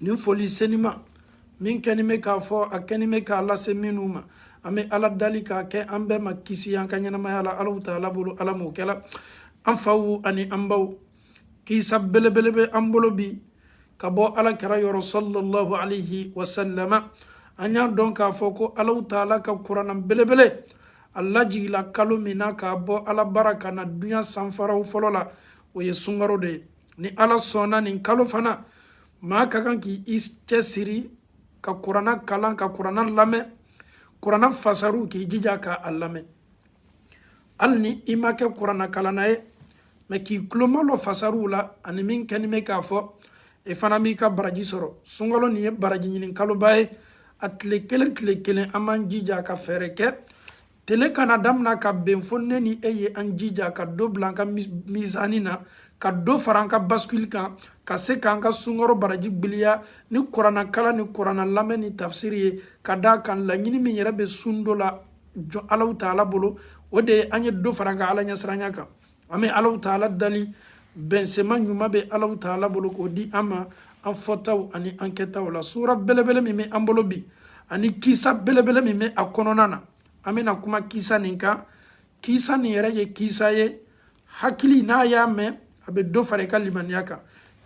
nin foli senima min kɛni bɛ k'a fɔ a kɛni bɛ k'a lase minnu ma an bɛ ala dali k'a kɛ an bɛɛ ma kisi an ka ɲɛnamaya la alaw taala bolo ala m'o kɛla an faw ani an baw kisa belebele bɛ an bolo bi ka bɔ ala kira yɔrɔ sallallahu alaihi wasallama an y'a dɔn k'a fɔ ko alaw taala ka kurana belebele a lajigila kalo min na ka bɔ ala bara ka na duɲa sanfara fɔlɔ la o ye sunkaro de ye ni ala sɔnna nin kalo fana maa ka kan k'i cɛsiri ka kurana kalan ka kurana lamɛn kurana fasariw k'i jija ka a lamɛn hali ni i ma kɛ kurana kalanna ye mɛ k'i tulomalɔ fasariw la ani min kɛni bɛ k'a fɔ i fana b'i ka baraji sɔrɔ sunkalo nin ye baraji ɲini kaloba ye a tile kelen tile kelen an b'an jija ka fɛɛrɛ kɛ tele kana damina ka ben fo ne ni e ye an jija ka dɔ bila an ka mizani na ka dɔ fara an ka basikili kan ka se k'an ka sunkaro baraji gbiliya ni kurana kalan ni kurana lamɛn ni tafsiri ye ka da kan laɲini min yɛrɛ bɛ sun don la jɔ alaw taala bolo o de ye an ye dɔ fara an ka ala ɲɛsiranya kan an bɛ alaw taala dali bɛnsema ɲuman bɛ alaw taala bolo k'o di an ma an fɔtaw ani an kɛtaw la sura belebele min bɛ an bolo bi ani kisa belebele min bɛ a kɔnɔna na an bɛna kuma kisa nin kan kisa nin yɛrɛ ye kisa ye hakili n'a y'a mɛn a bɛ dɔ fara i ka limaniya kan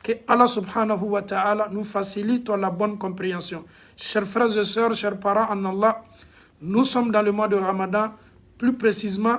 que Allah subhanahu wa ta'ala nous facilite la bonne compréhension. Chers frères et sœurs, chers parents en Allah, nous sommes dans le mois de Ramadan, plus précisément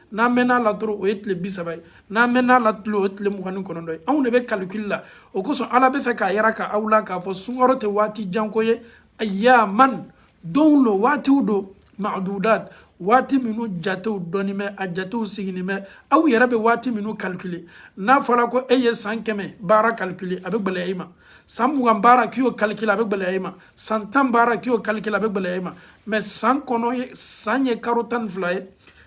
n'an mɛn'a la dɔrɔn o ye tile bi saba ye n'an mɛn'a la tile o ye tile mugan ni kɔnɔntɔn ye anw de bɛ kalikili la o kosɔn ala bɛ fɛ k'a yiraka aw la k'a fɔ sunkaro tɛ waati janko ye ayaman donw don waatiw don madudat waati minnu jatew dɔnni bɛ a jatew sigini bɛ aw yɛrɛ bɛ waati minnu kalikili n'a fɔra ko e ye san kɛmɛ baara kalikili a bɛ gɛlɛya i ma san mugan baara k'i y'o kalikili a bɛ gɛlɛya i ma san tan baara k'i y'o kalikili a bɛ gɛlɛya i ma mɛ san kɔnɔ ye san ye karo tan ni fila ye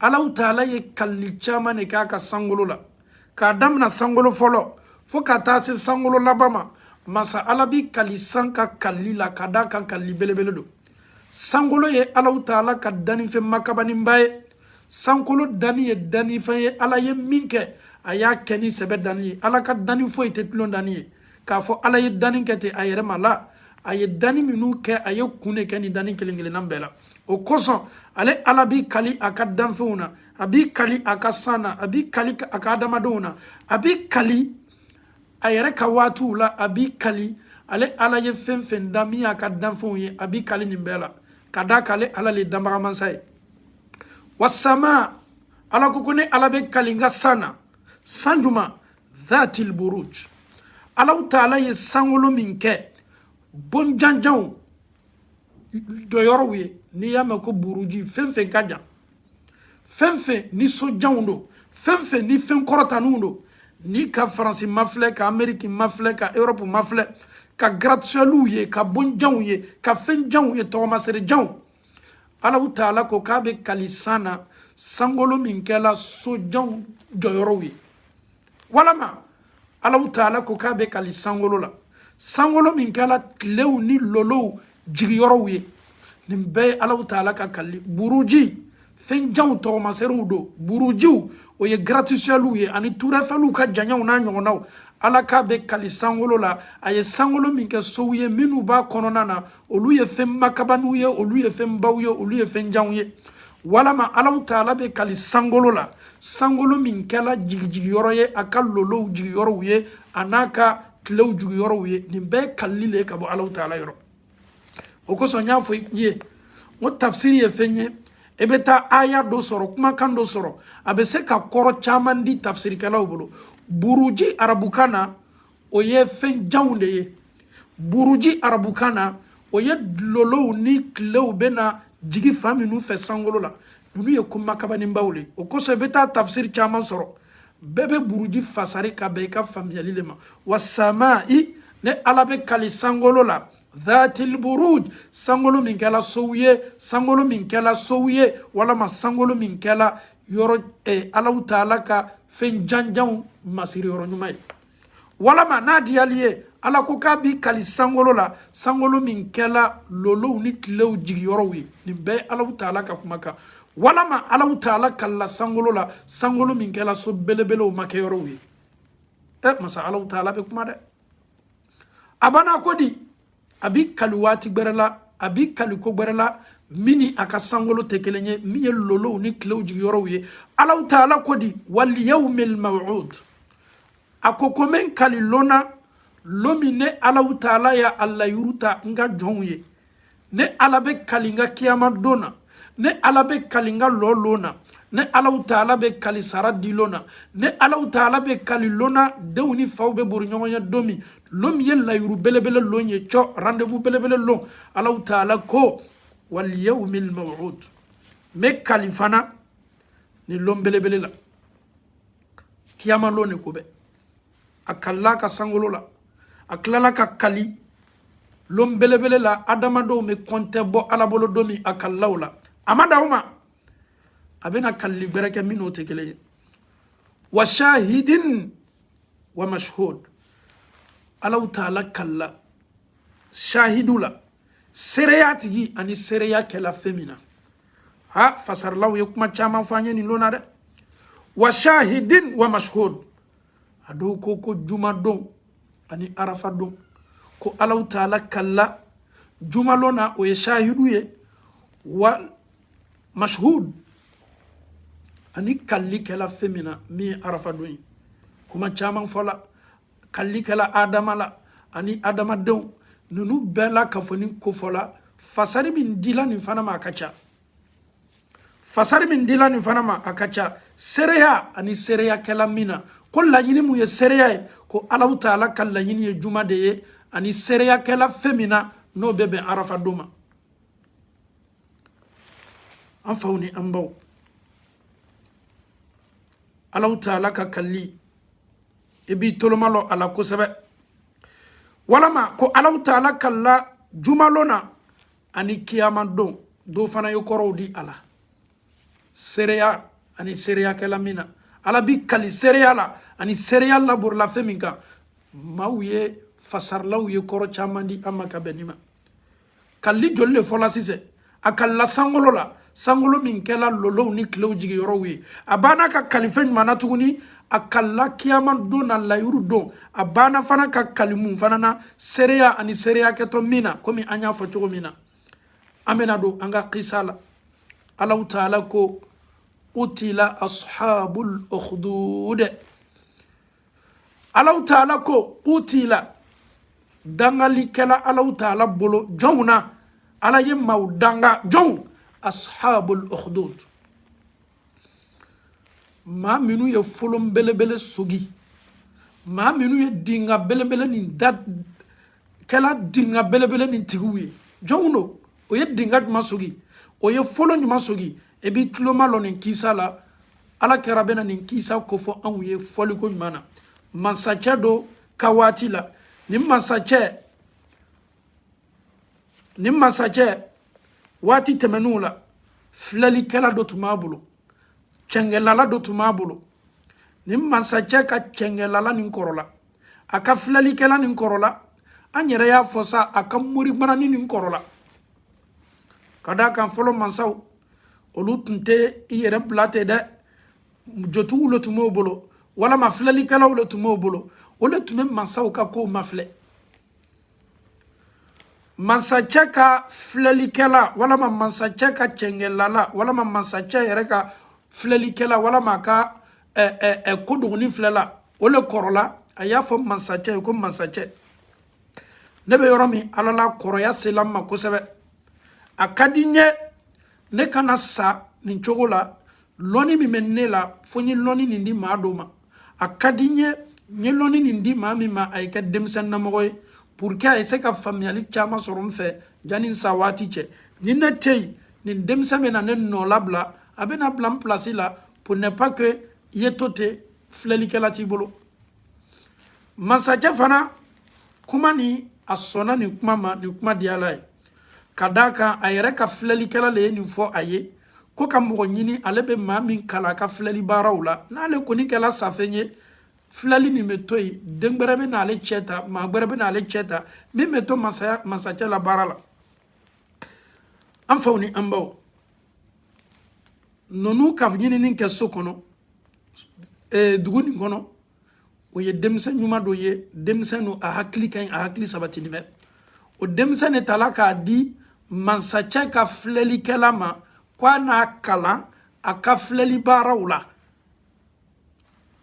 alaw taala ye kalili caman de kɛ a ka sankolo la k'a damina sankolo fɔlɔ fo ka taa se sankolo laban ma masa ala b'i kali san ka kalili la ka d'a kan kalili belebele don sankolo ye alaw taala ka dannifɛn makabaninba ye sankolo danni ye dannifɛn ye ala ye min kɛ a y'a kɛ ni sɛbɛ danni ye ala ka danni foyi tɛ tulon danni ye k'a fɔ ala ye danni kɛ ten a yɛrɛ ma la a ye danni minnu kɛ a ye kun de kɛ nin danni kelen kelenna bɛɛ la o kosɔn ale ala b'i kali a ka danfɛnw na a b'i kali a ka san na a b'i kali a ka adamadenw na a b'i kali a yɛrɛ ka waatiw la a b'i kali ale ala ye fɛn fɛn da min y'a ka danfɛnw ye a b'i kali nin bɛɛ la ka d'a kan ale ala le ye danbagamansa ye wasama ala ko ko ne ala bɛ kali n ka san na san juma dhatil buruj alaw taala ye sankolo min kɛ bon janjanw jɔyɔrɔw ye n'i y'a mɛn ko buruji fɛn fɛn ka jan fɛn fɛn ni so janw don fɛn fɛn ni fɛn kɔrɔtanniw don n'i ka faransi mafilɛ ka ameriki mafilɛ ka europe mafilɛ ka gratisiyɛliw ye ka bon janw ye ka fɛn janw ye tɔgɔmasere janw alaw taala ko k'a bɛ kali san na sankolo min kɛla so janw jɔyɔrɔw ye walama alaw taala ko k'a bɛ kali sankolo la sankolo min kɛla tilew ni lolow jigiyɔrɔw ye nin bɛɛ ye alaw taala ka kali buruji fɛn janw tɔgɔmaserew don burujiw o ye gratisiyɛliw ye ani turɛfɛliw ka janyaw n'a ɲɔgɔnnaw ala k'a bɛ kali sankolo la a ye sankolo min kɛ sow ye minnu b'a kɔnɔna na olu ye fɛn makabaniw ye olu ye fɛn baw ye olu ye fɛn janw ye walama alaw taala bɛ kali sankolo la sankolo min kɛla jigijigiyɔrɔ ye a ka lolow jigiyɔrɔw ye an'a ka tilew jigiyɔrɔw ye nin bɛɛ kalili le ka bɔ alaw taala yɔrɔ o kosɔn n y'a fɔ i ye n ko tafsiri ye fɛn ye i bɛ taa aya dɔ sɔrɔ kumakan dɔ sɔrɔ a bɛ se ka kɔrɔ caman di tafsirikɛlaw bolo buruji arabukan na o ye fɛn janw de ye buruji arabukan na o ye lolow ni tilew bɛ na jigi fan minnu fɛ sankolo la ninnu ye ko makabaninbaw de o kosɔn i bɛ taa tafsiri caman sɔrɔ bɛɛ bɛ buruji fasari ka bɛn i ka faamuyali de ma wa sama i ne ala bɛ kali sankolo la dhatil buruj sankolo min kɛla sow ye sankolo min kɛla sow ye walama sankolo min kɛla yɔrɔ eh, alaw taala ka fɛn janjanw masiri yɔrɔ ɲuman ye walama n'a diyal'i ye ala ko k'a b'i kali sankolo la sankolo min kɛla lolow ni tilew jigiyɔrɔw ye nin bɛɛ alaw taala ka kumakan walama alaw taala kalila sankolo la sankolo min kɛla so belebelew makɛyɔrɔw ye ɛ masa alaw taala bɛ kuma dɛ a banna ko di a b'i kali waati gbɛrɛ la a b'i kali ko gbɛrɛ la min ni a ka sankolo tɛ kelen ye min ye lolow ni tilew jigiyɔrɔw ye alaw taala ko di waliyawmil mawud a ko ko n bɛ kali lon na lon min ne alaw taala y'a layiri ta n ka jɔnw ye ne ala bɛ kali n ka kiyama don na ne ala bɛ kali n ka lɔ lon na ne alaw taala bɛ kali sara di lon na ne alaw taala bɛ kali lon na denw ni faw bɛ bori ɲɔgɔn ɲɛ don min lon min ye layuru belebele lon ye cɔ rendez-vous belebele lon alaw taala ko wal yawmil mawud n bɛ kali fana nin lon belebele la kiyama lon de ko bɛ a kalila ka sankolo la a tilala ka kali lon belebele la adamadenw bɛ kɔntɛ bɔ ala bolo don min a kalila o la a ma dan o ma a bɛna kalili gbɛrɛ kɛ min n'o tɛ kelen ye wa shahidin wa mashhud alaw taala kalila shahidu la seereya tigi ani seereya kɛla fɛn min na a fasarilaw ye kuma caman fɔ an ye nin lon na dɛ wa shahidin wa mashhud a dɔw ko ko juma don ani arafa don ko alaw taala kalila juma lon na o ye shahidu ye wa mashhud ani kalili kɛla fɛn min na min ye arafa don ye kuma caman fɔla kalili kɛla adama la ani adamadenw ninnu bɛɛ la kafoni kofɔla fasari min dila nin fana ma a ka ca fasari min dila nin fana ma a ka ca seereya ani seereyakɛla min na ko laɲini mun ye seereya ye ko alaw taala ka laɲini ye juma de ye ani seereyakɛla fɛn min na n'o bɛ bɛn arafa don ma an faw ni an baw alaw taala ka kalili i b'i tolo malɔ a la kosɛbɛ walama ko alaw taala kalila juma lon na ani kiyama don dɔw fana ye kɔrɔw di a la seereya ani seereyakɛla min na ala bi kali seereya la ani seereya laborila fɛn min kan maaw ye fasarilaw ye kɔrɔ caman di an ma ka bɛn nin ma kalili joli le fɔla sisan a kalila sankolo la sankolo min kɛla lolow ni tilew jigiyɔrɔw ye a banna ka kali fɛn jumɛn na tuguni a kalila kiyama don na layiru don a banna fana ka kali mun fana na seereya ani seereya kɛtɔ min na komi an y'a fɔ cogo min na an bɛna don an ka kisa la alaw taala ko kutila ashabul ukhdud alaw taala ko kutila dangali kɛla alaw taala bolo jɔnw na ala ye maaw danga jɔnw ashabul ukhdud maa minnu ye folon belebele sogi maa minnu ye dinga belebele nin da kɛla dinga belebele nin tigiw ye jɔnw don o ye dinga jumɛn sogi o ye folon jumɛn sogi i b'i tulo malɔ nin kisa la ala kira bɛna nin kisa kofɔ anw ye fɔliko ɲuman na mansacɛ dɔ ka waati la nin mansacɛ nin mansacɛ waati tɛmɛnenw la filɛlikɛla dɔ tun b'a bolo cɛngɛlala dɔ tun b'a bolo nin mansacɛ ka cɛngɛlala nin kɔrɔla a ka filɛlikɛla nin kɔrɔla an yɛrɛ y'a fɔ sa a ka moribanani nin kɔrɔla ka d'a kan fɔlɔ mansaw olu tun tɛ i yɛrɛ bila ten dɛ jotigiw le tun b'o bolo walama filɛlikɛlaw le tun b'o bolo o le tun bɛ mansaw ka kow mafilɛ mansacɛ ka filɛlikɛla walama mansacɛ ka cɛngɛlala walama mansacɛ yɛrɛ ka filɛlikɛla walama a ka ɛ ɛ ɛ ko dogoni filɛla o le kɔrɔla a y'a fɔ mansacɛ ye ko mansacɛ ne bɛ yɔrɔ min ala la kɔrɔya sela n ma kosɛbɛ a ka di n ye ne kana sa nin cogo la lɔni min bɛ ne la fo n ye lɔni nin di maa dɔ ma a ka di n ye n ye lɔni nin di maa min ma a ye kɛ denmisɛnnamɔgɔ ye pour que a ye se ka faamuyali caman sɔrɔ n fɛ yanni n sa waati cɛ ni ne tɛ yen nin denmisɛn bɛna ne nɔlabila a bɛna bila n pilasi la pour ne pas que i ye to ten filɛlikɛla t'i bolo masacɛ fana kuma nin a sɔnna nin kuma ma nin kuma diyal'a ye ka d'a kan a yɛrɛ ka filɛlikɛla le ye nin fɔ a ye ko ka mɔgɔ ɲini ale bɛ maa min kalan a ka filɛli baaraw la n'ale kɔni kɛla safɛn ye filɛli nin bɛ to yen den gbɛrɛ bɛn'ale cɛ ta maa gbɛrɛ bɛn'ale cɛ ta min bɛ to masaya masacɛ la baara la an faw ni an baw ninnu ka ɲinini kɛ so kɔnɔ eh, dugu nin kɔnɔ o ye denmisɛn ɲuman dɔ ye denmisɛn don a hakili ka ɲi a hakili sabatinin bɛ o denmisɛn le tala k'a di mansacɛ ka filɛlikɛla ma ko a n'a kalan a ka filɛli baaraw la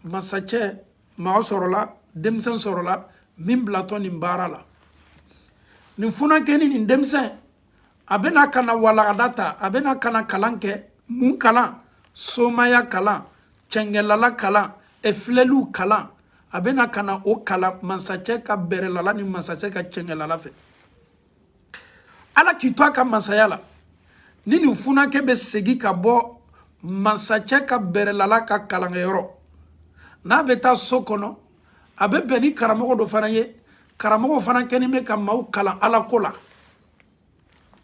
mansacɛ maa sɔrɔla denmisɛn sɔrɔla min bilatɔ nin baara la nin funankɛni nin denmisɛn a bɛna ka na walagada ta a bɛna ka na kalan kɛ mun kalan somaya kalan cɛngɛlala kalan filɛliw kalan a bɛna ka na o kalan masacɛ ka bɛrɛlala ni masacɛ ka cɛngɛlala fɛ ala k'i to a ka masaya la ni nin funakɛ bɛ segin ka bɔ masacɛ ka bɛrɛlala ka kalankɛyɔrɔ n'a bɛ taa so kɔnɔ a bɛ bɛn ni karamɔgɔ dɔ fana ye karamɔgɔ fana kɛnin bɛ ka maaw kalan ala ko la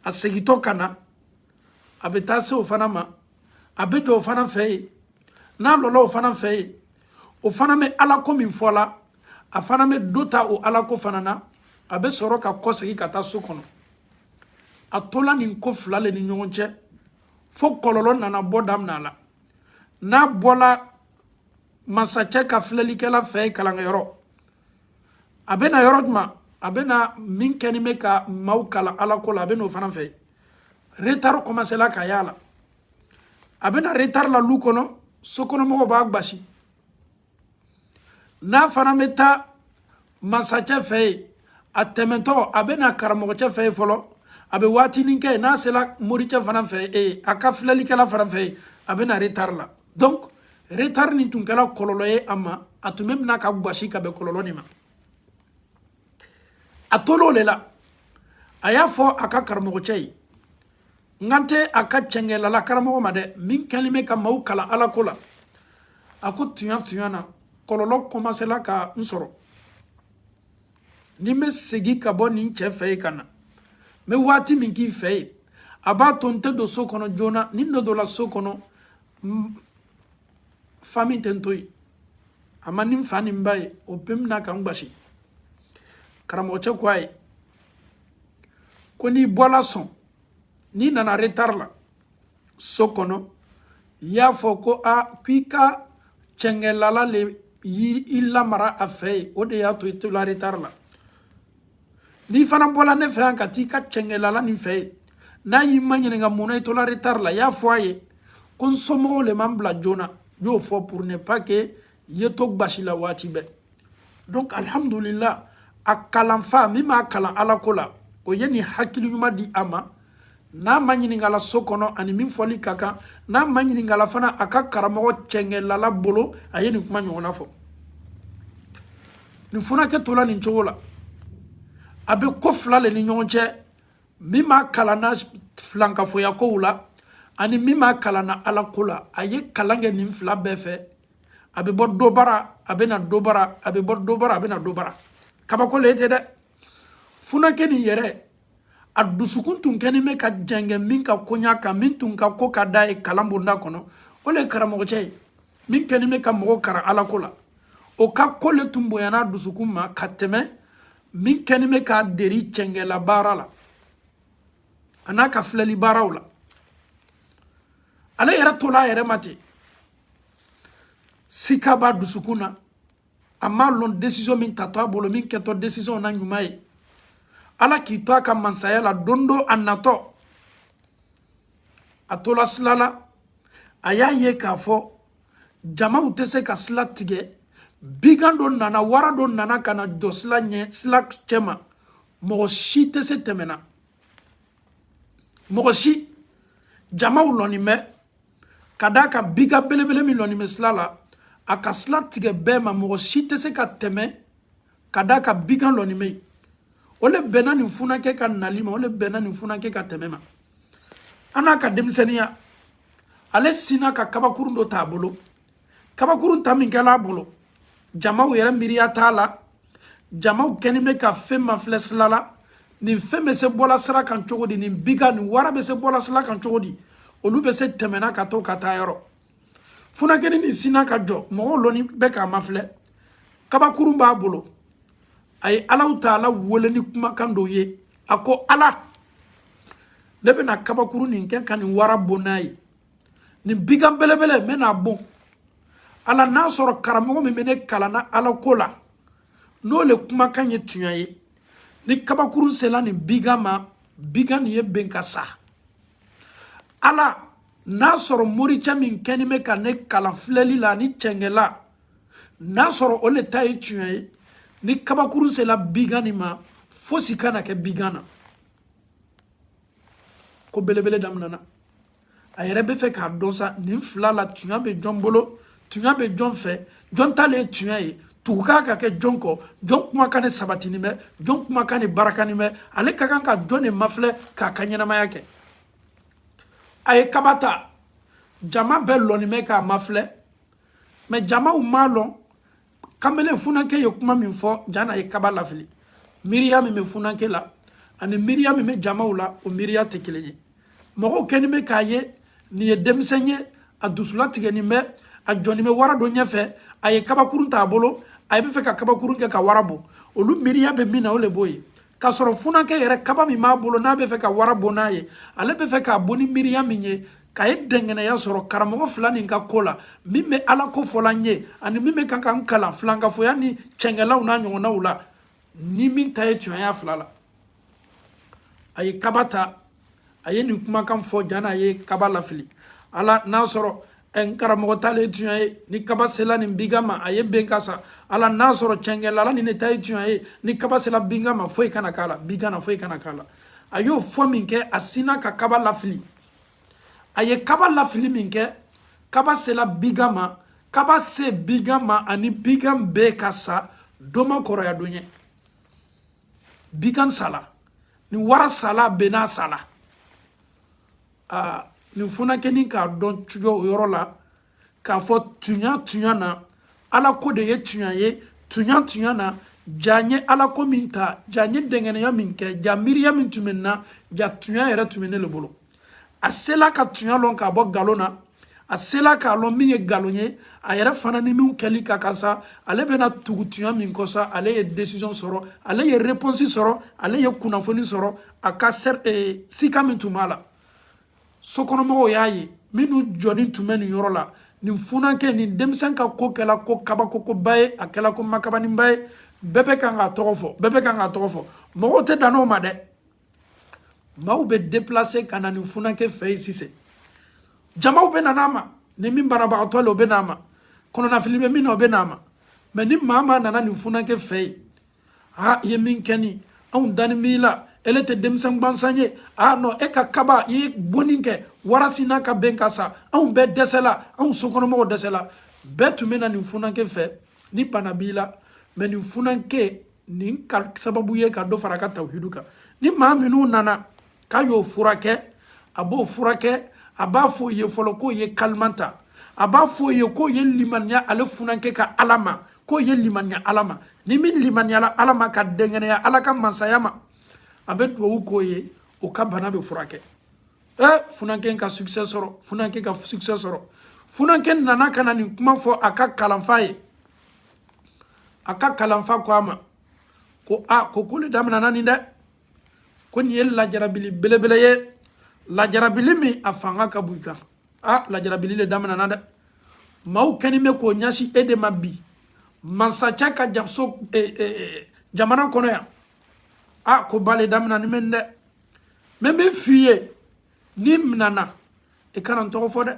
a segintɔ ka na a bɛ taa se o fana ma a bɛ jɔ o fana fɛ yen n'a lɔla o fana fɛ yen o fana bɛ ala ko min fɔ la a fana bɛ dɔ ta o ala ko fana na a bɛ sɔrɔ ka kɔsegin ka taa so kɔnɔ a tola nin ko fila le ni ɲɔgɔn cɛ fo kɔlɔlɔ nana bɔ daminɛ a la n'a bɔla masacɛ ka filɛlikɛla fɛ yen kalanyɔrɔ a bɛ na yɔrɔ jumɛn a bɛ na min kɛnin bɛ ka maaw kalan ala ko la a bɛ n'o fana fɛ retari kɔmasela ka y'a la a bɛ na retari la lu kɔnɔ sokɔnɔmɔgɔw b'a gbasi n'a fana bɛ taa masacɛ fɛ yen a tɛmɛntɔ a bɛ na karamɔgɔcɛ fɛ yen fɔlɔ a bɛ waatinin kɛ n'a sela moricɛ fana fɛ yen a ka filɛlikɛla fana fɛ yen a bɛ na retari la donc retari nin tun kɛla kɔlɔlɔ ye a ma a tun bɛ mina ka gbasi ka bɛn kɔlɔlɔ nin ma a tol'o le la a y'a fɔ a ka karamɔgɔcɛ ye n kan tɛ a ka cɛngɛlala karamɔgɔ ma dɛ min kɛlen bɛ ka maaw kalan ala ko la a ko tuɲa tuɲa na kɔlɔlɔ kɔmasela ka n sɔrɔ ni n bɛ segin ka bɔ nin cɛ fɛ yen ka na n bɛ waati min k'i fɛ yen a b'a to n tɛ don so kɔnɔ joona ni n dun donna so kɔnɔ famille tɛ n to yen a ma ni n fa ni n ba ye o bɛ n mina ka n gbasi karamɔgɔcɛ ko a ye ko n'i bɔla sɔn n'i nana retari la so kɔnɔ y'a fɔ ko k'i ka cɛngɛlala le y'i lamara a fɛ yen o de y'a to i tola retari la n'i fana bɔla ne fɛ yan ka t'i ka cɛngɛlala nin fɛ yen n'a y'i maɲininka mun na i tola retari la y'a fɔ a ye ko n somɔgɔw le ma n bila joona n y'o fɔ pour ne pas que ye to gbasi la waati bɛɛ donc alhamdulillah a kalanfa min b'a kalan alako la o ye nin hakili ɲuman di a ma n'a maɲininkala so kɔnɔ a ni min fɔli ka kan n'a maɲininkala fana a ka karamɔgɔ cɛngɛlala bolo a ye nin kuma ɲɔgɔnna fɔ nin funakɛ tola nin cogo la a bɛ ko fila le ni ɲɔgɔn cɛ min b'a kalan na filankafoyakow la ani min b'a kalan na alako la a ye kalan kɛ nin fila bɛɛ fɛ a bɛ bɔ dɔ bara a bɛ na dɔ bara a bɛ bɔ dɔ bara a bɛ na dɔ bara kabako le tɛ dɛ funakɛ nin yɛrɛ a dusukun tun kɛlen bɛ ka jɛngɛ min ka koɲa kan min tun ka ko ka d'a ye kalan bonda kɔnɔ o le ye karamɔgɔcɛ ye min kɛlen bɛ ka mɔgɔ karan alako la o ka ko le tun bonyan'a dusukun ma ka tɛmɛ min kɛlen bɛ k'a deri cɛngɛla baara la an'a ka filɛli baaraw la ale yɛrɛ tola a yɛrɛ ma ten sika b'a dusukun na a m'a lɔn desizɔn min tatɔ a bolo min kɛtɔ desizɔn na ɲuman ye ala k'i to a ka mansaya la don dɔ a natɔ a tola sila la a y'a ye k'a fɔ jamaw tɛ se ka sila tigɛ bigan dɔ nana wara dɔ nana ka na jɔ sila ɲɛ sila cɛma mɔgɔ si tɛ se tɛmɛna mɔgɔ si jamaw lɔni bɛ ka d'a kan bigan belebele min lɔni bɛ sila la a ka sila tigɛ bɛɛ ma mɔgɔ si tɛ se ka tɛmɛ ka d'a kan bigan lɔni bɛ yen o le bɛnna nin funankɛ ka nali ma o le bɛnna nin funankɛ ka tɛmɛ ma a n'a ka denmisɛnninya ale sinna ka kabakurun dɔ t'a bolo kabakurun ta min kɛla a bolo jamaw yɛrɛ miiriya t'a la jamaw kɛni bɛ ka fɛn mafilɛ sila la nin fɛn bɛ se bɔla sira kan cogo di nin bigan nin wara bɛ se bɔla sira kan cogo di olu bɛ se tɛmɛna ka to ka taa yɔrɔ funakɛni nin sinna ka jɔ mɔgɔw lɔni bɛ k'a mafilɛ kabakurun b'a bolo a ye alahu taala wele ni kumakan dɔw ye a ko ala ne bɛna kabakurun nin kɛ ka nin wara bon n'a ye nin bigan belebele n bɛn'a bon ala n'a sɔrɔ karamɔgɔ min bɛ ne kalanna ala ko la n'o le kumakan ye tunya ye ni kabakurun sela nin bigan ma bigan nin ye ben ka sa ala n'a sɔrɔ moricɛ min kɛni bɛ ka ne kalan filɛli la ani cɛngɛla n'a sɔrɔ o le ta ye tunya ye ni kabakurun sela bigan nin ma fosi kana kɛ bigan na ko belebele daminana a yɛrɛ bɛ fɛ k'a dɔn sa nin fila la tunya bɛ jɔn bolo tunya bɛ jɔn fɛ jɔn ta le ye tunya ye tugu ka kan ka kɛ jɔn kɔ jɔn kumakan de sabatini bɛ jɔn kumakan de barakani bɛ ale ka kan ka jɔn de mafilɛ k'a ka ɲɛnamaya kɛ a ye kaba ta jama bɛɛ lɔni bɛ k'a mafilɛ mɛ jamaw m'a lɔn kanbelen funakɛ ye kuma min fɔ jan'a ye kaba lafili miiriya min bɛ funakɛ la ani miiriya min bɛ jamaw la o miiriya tɛ kelen ye mɔgɔw kɛni bɛ k'a ye nin ye denmisɛn ye a dusu latigɛnin bɛ a jɔni bɛ wara dɔ ɲɛfɛ a ye kabakurun t'a bolo a bɛ fɛ ka kabakurun kɛ ka wara bon olu miiriya bɛ min na o le b'o ye k'a sɔrɔ funakɛ yɛrɛ kaba min b'a bolo n'a bɛ fɛ ka wara bon n'a ye ale bɛ fɛ k'a bon ni miiriya min ye k'a ye dɛngɛnɛya sɔrɔ karamɔgɔ fila nin ka ko la min bɛ ala ko fɔla n ye ani min bɛ kan ka n kalan filankafoya ni cɛngɛlaw n'a ɲɔgɔnnaw la ni min ta ye tunya y'a fila la a ye kaba ta a ye nin kumakan fɔ jana a ye kaba lafili ala n'a sɔrɔ eh, n karamɔgɔ ta le ye tunya ye ni kaba sela nin bigan ma a ye ben ka sa ala n'a sɔrɔ cɛngɛlala nin ne ta ye tunya ye ni kaba sela bigan ma foyi kana k'a la bigan na foyi kana k'a la a y'o fɔ min kɛ a sinna ka kaba lafili a ye kaba lafili min kɛ kaba sela bigan ma kaba se bigan ma ani bigan ben ka sa doma kɔrɔya don ye bigan sala ni wara sala benna sala aa nin funakɛnin k'a dɔn cogo o yɔrɔ la k'a fɔ tuɲa tuɲa na ala ko de ye tuɲa ye tuɲa tuɲa na ja n ye ala ko min ta ja n ye dɛngɛnɛya min kɛ ja miiriya min tun bɛ n na ja tuɲa yɛrɛ tun bɛ ne le bolo a sela ka tuɲa lɔn k'a bɔ galon na a sela k'a lɔn min ye galon ye a yɛrɛ fana ni min kɛli ka kan sa ale bɛna tugu tuɲa min kɔ sa ale ye décision sɔrɔ ale ye réponse sɔrɔ ale ye kunnafoni sɔrɔ a ka sika min tun b'a la sokɔnɔmɔgɔw y'a ye minnu jɔnin tun bɛ nin yɔrɔ la nin funankɛ nin denmisɛn ka ko kɛla ko kabakokoba ye a kɛla ko makabaninba ye bɛɛ bɛ kan k'a tɔgɔ fɔ bɛɛ bɛ kan k'a tɔgɔ fɔ mɔgɔw tɛ dan o ma dɛ maaw bɛ déplacer ka na nin funankɛ fɛ yen sisan jamaw bɛ nan'a ma ni min banabagatɔ le o bɛ n'a ma kɔnɔnafili bɛ min na o bɛ n'a ma mais ni maa maa nana nin funankɛ fɛ yen aa i ye min kɛ nin anw danin b'i la ele tɛ denmisɛn gbansan ye aa non e ka kaba i ye bonni kɛ wara sinna ka ben ka sa anw bɛɛ dɛsɛla anw sokɔnɔmɔgɔw dɛsɛla bɛɛ tun bɛ na nin funankɛ fɛ ni bana b'i la mais nin funankɛ nin ka sababu ye ka dɔ fara a ka tawhidu kan ni maa minnu nana k'a y'o furakɛ a b'o furakɛ a b'a fɔ o ye fɔlɔ k'o ye kalima ta a b'a fɔ o ye k'o ye limaniya ale funankɛ ka ala ma k'o ye limaniya ala ma ni min limaniyala ala ma ka dɛnkɛnɛya ala ka masaya ma a bɛ duwawu k'o ye o ka bana bɛ furakɛ ɛ funankɛ ka succès sɔrɔ funankɛ ka succès sɔrɔ funankɛ nana ka na nin kuma fɔ a ka kalanfa ye a ka kalanfa ko a ma ko a ko ko le daminɛna nin dɛ ko nin ye lajarabili belebele ye lajarabili min a fanga ka bon i kan a lajarabili le daminɛna dɛ maaw kɛnin bɛ k'o ɲɛsin e de ma bi mansacɛ ka jaso e, e, e, jamana kɔnɔ yan a koba le daminɛnin bɛ dɛ mais n b'a f'i ye n'i minɛna i kana n tɔgɔ fɔ dɛ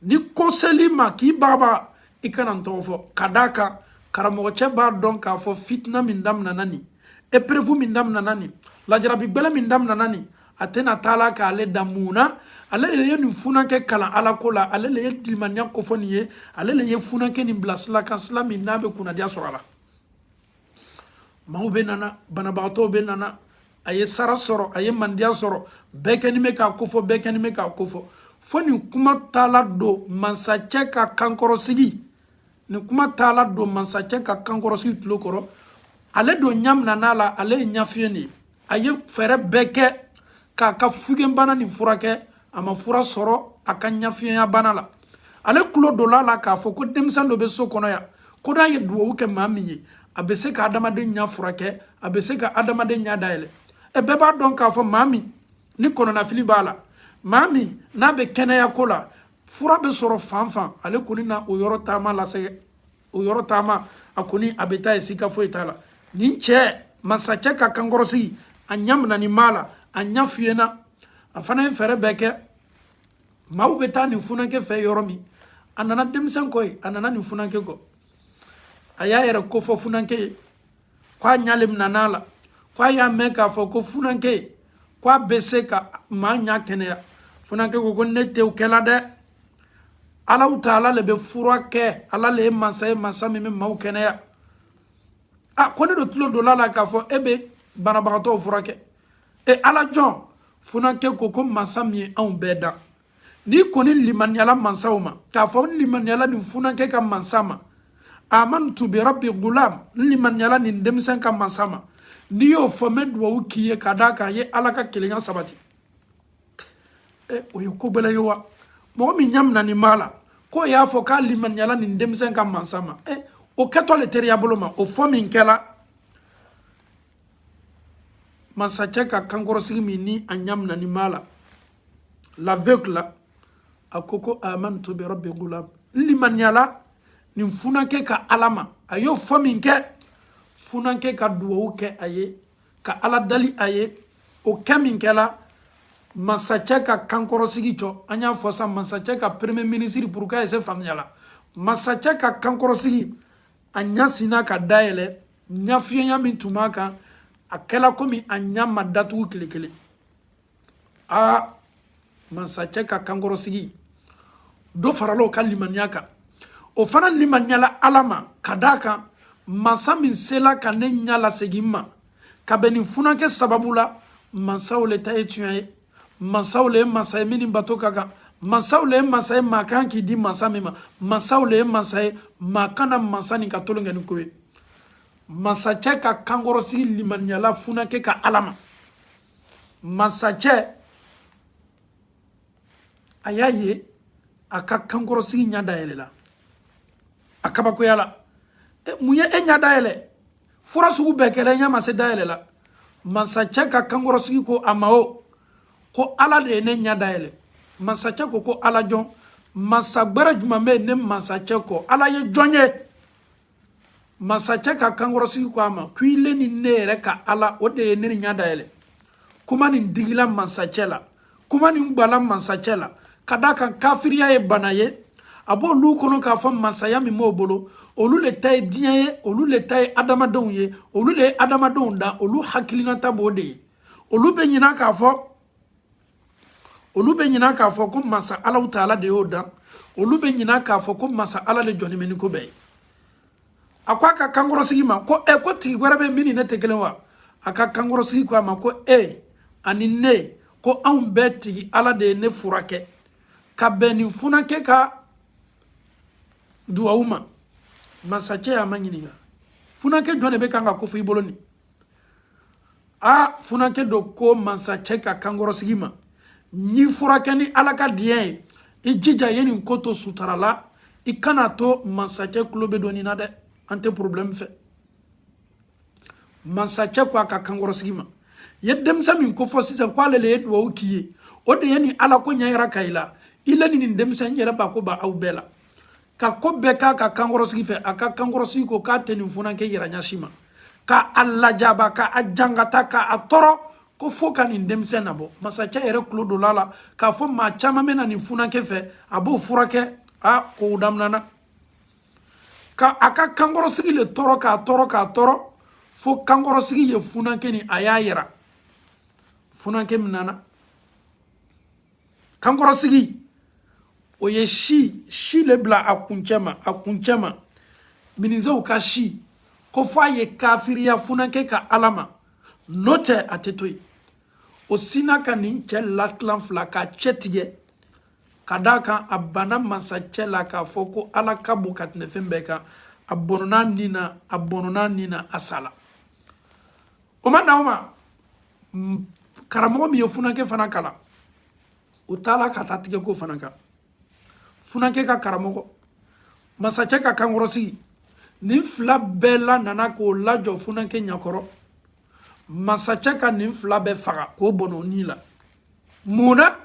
ni ko sel'i ma k'i bagabaga i kana n tɔgɔ fɔ ka d'a kan karamɔgɔcɛ b'a dɔn k'a fɔ fitina min daminɛna nin épreuve min daminɛna nin lajarabi gbɛlɛ min daminɛna nin a tɛna taa la k'ale dan mun na ale de ye nin funankɛ kalan ala ko la ale de ye di limaniya kofɔ nin ye ale de ye funankɛ nin bila sila kan sila min n'a bɛ kunnadiya sɔrɔ a la maaw bɛ nana banabagatɔw bɛ nana a ye sara sɔrɔ a ye mandiya sɔrɔ bɛɛ kɛnin bɛ k'a kofɔ bɛɛ kɛnin bɛ k'a kofɔ fo nin kuma taala don mansacɛ ka kankɔrɔsigi nin kuma taala don mansacɛ ka kankɔrɔsigi tulo kɔrɔ ale don ɲa minan'a la ale ye ɲafiyen de ye a ye fɛɛrɛ bɛɛ kɛ k'a ka fiyenbana nin furakɛ a ma fura sɔrɔ a ka ɲafiyenya bana la ale tulo donna a la k'a fɔ ko denmisɛn dɔ bɛ so kɔnɔ yan ko n'a ye duwawu kɛ maa min ye a bɛ se ka adamaden ɲa furakɛ a bɛ se ka adamaden ɲa dayɛlɛ ɛ bɛɛ b'a dɔn k'a fɔ maa min ni kɔnɔnafili b'a la maa min n'a bɛ kɛnɛya ko la fura bɛ sɔrɔ fan fan ale kɔni na o yɔrɔ taama lase o yɔrɔ taama a kɔni a bɛ taa yen sika foyi t'a la nin cɛ masacɛ ka kankɔrɔsigi a ɲa minanin b'a la a ɲa fiyenna a fana ye fɛɛrɛ bɛɛ kɛ maaw bɛ taa nin funankɛ fɛ yɔrɔ min a nana denmisɛn kɔ yen a nana nin funankɛ kɔ a y'a yɛrɛ kofɔ funankɛ ye k'a ɲa le minana a la k'a y'a mɛn k'a fɔ ko funankɛ k'a bɛ se ka maa ɲa kɛnɛya funankɛ ko ko ne tɛ o kɛla dɛ alahu taala le bɛ fura kɛ ala le ye mansa ye mansa min bɛ maaw kɛnɛya a ko ne dun tulo donna a la k'a fɔ e bɛ banabagatɔw furakɛ e ala jɔn funankɛ ko ko mansa min ye anw bɛɛ dan n'i kɔni limaniyala mansa o ma k'a fɔ n limaniyala nin funankɛ ka mansa ma amantu bi rabbi gulam n limaniyala nin denmisɛn ka mansa ma n'i y'o fɔ n bɛ duwawu k'i ye ka d'a kan a ye ala ka kelenya sabati ɛ o ye ko gɛlɛn ye wa mɔgɔ min ɲa minanin b'a la k'o y'a fɔ k'a limaniyala nin denmisɛn ka mansa ma ɛ o kɛtɔ le teriya bolo ma o fɔ min kɛla masacɛ ka kankɔrɔsigi min ni a ɲa minanin b'a la l'aveugle là a ko ko amantu bi rabbi gulam n limaniyala nin funankɛ ka ala ma a y'o fɔ min kɛ funankɛ ka duwawu kɛ a ye ka ala dali a ye o kɛ min kɛla masacɛ ka kankɔrɔsigi jɔ an y'a fɔ sa masacɛ ka premier ministre pour k'a ye se faamuya la masacɛ ka kankɔrɔsigi a ɲa sinna ka dayɛlɛ ɲafiyenya min tun b'a kan a kɛla komi a ɲa ma datugu tile kelen aa masacɛ ka kankɔrɔsigi dɔ farala o ka limaniya kan o fana limaniyala ala ma ka d'a kan mansa min sela ka ne ɲa lasegin n ma ka bɛn nin funankɛ sababu la mansa o le ta ye tiɲɛ ye mansa o le ye mansa ye min ni bato ka kan mansa o le ye mansa ye maa kan k'i di mansa min ma mansa o le ye mansa ye maa kana mansa min ka tolon kɛ ni ko ye masacɛ ka kankɔrɔsigi limaniyala funankɛ ka ala ma masacɛ a y'a ye a ka kankɔrɔsigi ɲa dayɛlɛla a kabakoya la mun ye e ɲa dayɛlɛ fura sugu bɛɛ kɛla i ɲa ma se dayɛlɛ la masacɛ ka kankɔrɔsigi ko a ma o ko ala de ye ne ɲa dayɛlɛ masacɛ ko ko ala jɔn masa gbɛrɛ juman bɛ ne masacɛ kɔ ala ye jɔn ye masakɛ ka kankɔrɔsigi ko a ma ko i le ni ne yɛrɛ ka ala o de ye ne ɲa dayɛlɛ kuma nin digila masakɛ la kuma nin gwala masakɛ la ka da kan kafiriya ye bana ye a b'olu kɔnɔ k'a fɔ masaya min b'o bolo olu le ta ye diɲɛ ye olu le ta ye adamadenw ye olu le ye adamadenw dan olu hakilinata b'o de ye olu bɛ ɲina k'a fɔ olu bɛ ɲina k'a fɔ ko masa ala taala de y'o dan olu bɛ ɲina k'a fɔ ko masa ala de jɔnin bɛ ni ko bɛɛ ye a ko a ka kankɔrɔsigi ma ko e ko tigi wɛrɛ bɛ min ni ne tɛ kelen wa a ka kankɔrɔsigi ko a ma ko e ani ne ko anw bɛɛ tigi ala de ye ne furakɛ ka bɛn nin funakɛ ka duwawu ma masakɛ y'a maɲininka funakɛ jɔn de bɛ kan ka kofɔ i bolo nin a funakɛ do ko mansakɛ ka kankɔrɔsigi ma n y'i furakɛ ni ala ka diɲɛ ye i jija ye nin ko to sutara la i kana to mansakɛ kulo bɛ don nin na dɛ an tɛ problème fɛ mansakɛ ko a ka kankɔrɔsigi ma ye denmisɛn min kofɔ sisan k'ale le ye duwawu k'i ye o de ye nin ala ko ɲɛyira ka i la i le ni nin denmisɛn yɛrɛ ba ko ba aw bɛɛ la ka ko bɛɛ k'a ka kankɔrɔsigi fɛ a ka kankɔrɔsigi ko k'a tɛ nin funankɛ yira ɲa si ma ka a lajaba ka a jangata ka a tɔɔrɔ ko fo ka nin denmisɛn nabɔ masakɛ yɛrɛ tulo donna a la k'a fɔ maa caman bɛ na nin funankɛ fɛ a b'o furakɛ a kow daminɛna ka a ka kankɔrɔsigi le tɔɔrɔ k'a tɔɔrɔ k'a tɔɔrɔ fo kankɔrɔsigi ye funankɛ nin a y'a yira funankɛ minana kankɔrɔsigi o ye si si le bila a kuncɛ ma a kuncɛ ma minizew ka si k'o fɔ a ye kafiriya funankɛ ka ala ma n'o tɛ a tɛ to yen o sinna ka nin cɛ latilan fila k'a cɛ tigɛ ka d'a kan a banna mansacɛ la k'a fɔ ko ala ka bon ka tɛmɛ fɛn bɛɛ kan a bɔnɔna nin na a bɔnɔna nin na a sala o ma na o ma karamɔgɔ min ye funankɛ fana kalan o taala ka taa tigɛ k'o fana kan funankɛ ka karamɔgɔ masakɛ ka kankɔrɔsigi nin fila bɛɛ lanana k'o lajɔ funankɛ ɲakɔrɔ masakɛ ka nin fila bɛɛ faga k'o bɔnɔ ni la mun na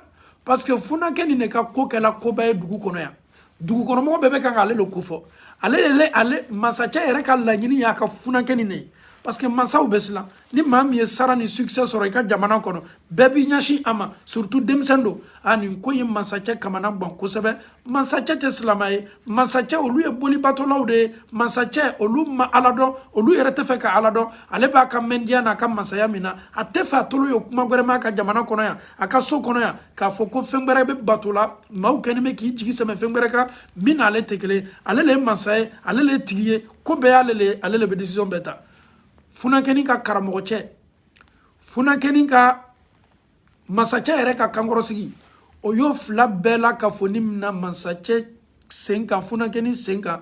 parce que funakɛ nin de ka ko kɛla koba ye dugu kɔnɔ yan dugukɔnɔmɔgɔ bɛɛ bɛ kan k'ale le kofɔ ale le ale masakɛ yɛrɛ ka laɲini y'a ka funakɛ nin de ye parce que mansaw bɛ siran ni maa min ye sara ni succès sɔrɔ i ka jamana kɔnɔ bɛɛ b'i ɲɛsin a ma surtout denmisɛn don a nin ko ye masakɛ kamana gwan kosɛbɛ mansakɛ tɛ silamɛ ye mansakɛ olu ye bolibatolaw de ye mansakɛ olu ma ala dɔn olu yɛrɛ tɛ fɛ ka ala dɔn ale b'a ka mɛndiya n'a ka mansaya min na a tɛ fɛ a tolo ye kuma wɛrɛ mɛn a ka jamana kɔnɔ yan a ka so kɔnɔ yan k'a fɔ ko fɛn wɛrɛ bɛ bato la maaw kɛni bɛ k'i jigi sɛmɛ fɛn wɛrɛ kan min n'ale tɛ kelen ye ale le ye mansa ye ale le ye tigi ye ko bɛɛ y'ale le ye ale le bɛ decision bɛɛ ta funakɛni ka karamɔgɔ cɛ funakɛni ka masakɛ yɛrɛ ka kankɔrɔsigi o y'o fila bɛɛ lakafoni mina masakɛ sen kan funakɛni sen kan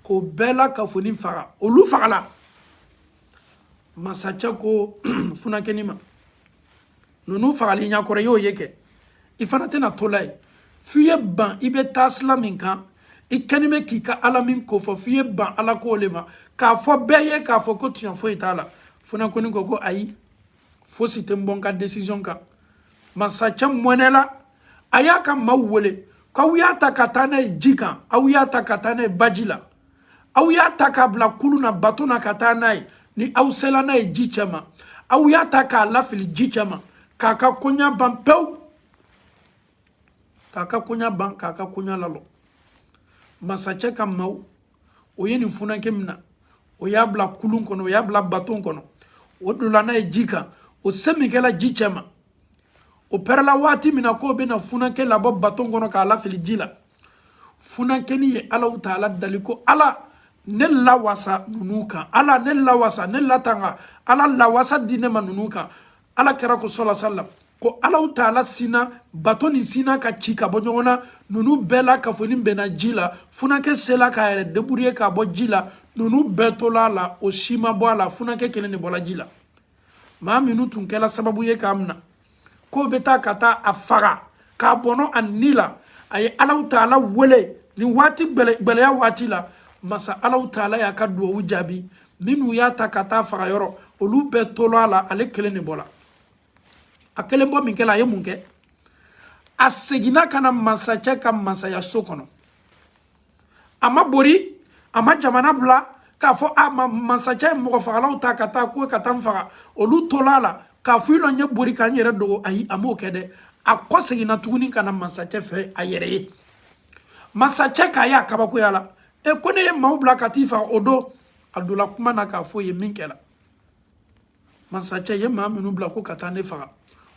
k'o bɛɛ lakafoni faga olu fagala masakɛ ko funakɛni ma ninnu fagali ɲakɔrɔ i y'o ye kɛ i fana tɛna to la ye f'i ye ban i bɛ taa sila min kan i kɛni bɛ k'i ka ala min ko fɔ f'i ye ban ala ko le ma k'a fɔ bɛɛ ye k'a fɔ ko tiɲɛ foyi t'a la funakɛni ko ko ayi fosi tɛ n bɔ n ka decision kan masakɛ mɔnɛla a y'a ka maaw wele k'aw y'a ta ka taa n'a ye ji kan aw y'a ta ka taa n'a ye baji la aw y'a ta k'a bila kulun na baton na ka taa n'a ye ni aw sela n'a ye ji cɛma aw y'a ta k'a lafili ji cɛma k'a ka koɲa ban pewu k'a ka koɲa ban k'a ka koɲa lalɔ masakɛ ka maaw o ye nin funankɛ mina o y'a bila kulun kɔnɔ o y'a bila baton kɔnɔ o donna n'a ye ji kan o se min kɛla ji cɛ ma o pɛrɛla waati min na k'o bɛna funankɛ labɔ baton kɔnɔ k'a lafili ji la funankɛni ye alaw taala dali ko ala ne lawasa ninnu kan ala ne lawasa ne latanga ala lawasa di ne ma ninnu kan ala kira ko sɔla sallam ko alaw taala sinna baton nin sinna ka ci ka bɔ ɲɔgɔn na ninnu bɛɛ lakafoni benna ji la funakɛ sela k'a yɛrɛ débrouiller ka bɔ ji la ninnu bɛɛ tola a la o si ma bɔ a la funakɛ kelen de bɔla ji la maa minnu tun kɛla sababu ye k'a mina k'o bɛ taa ka taa a faga k'a bɔnɔ a ni la a ye alaw taala wele nin waati gbɛlɛya waati la masa alaw taala y'a ka duwawu jaabi minnu y'a ta ka taa faga yɔrɔ olu bɛɛ tola a la ale kelen le bɔla a kelen bɔ min kɛla a ye mun kɛ a seginna ka na masakɛ ka masaya so kɔnɔ a ma bori a ma jamana bila k'a fɔ a ma masakɛ mɔgɔ fagalaw ta ka taa ko ka taa n faga olu tola a la k'a fɔ i lɔ n ye bori ka n yɛrɛ dogo ayi a m'o kɛ dɛ a kɔ seginna tuguni ka na masakɛ fɛ a yɛrɛ ye masakɛ k'a ye a kabakoyala e ko ne ye maaw bila ka t'i faga o don a donna kuma na k'a fɔ ye min kɛra masacɛ ye maa minnu bila ko ka taa ne faga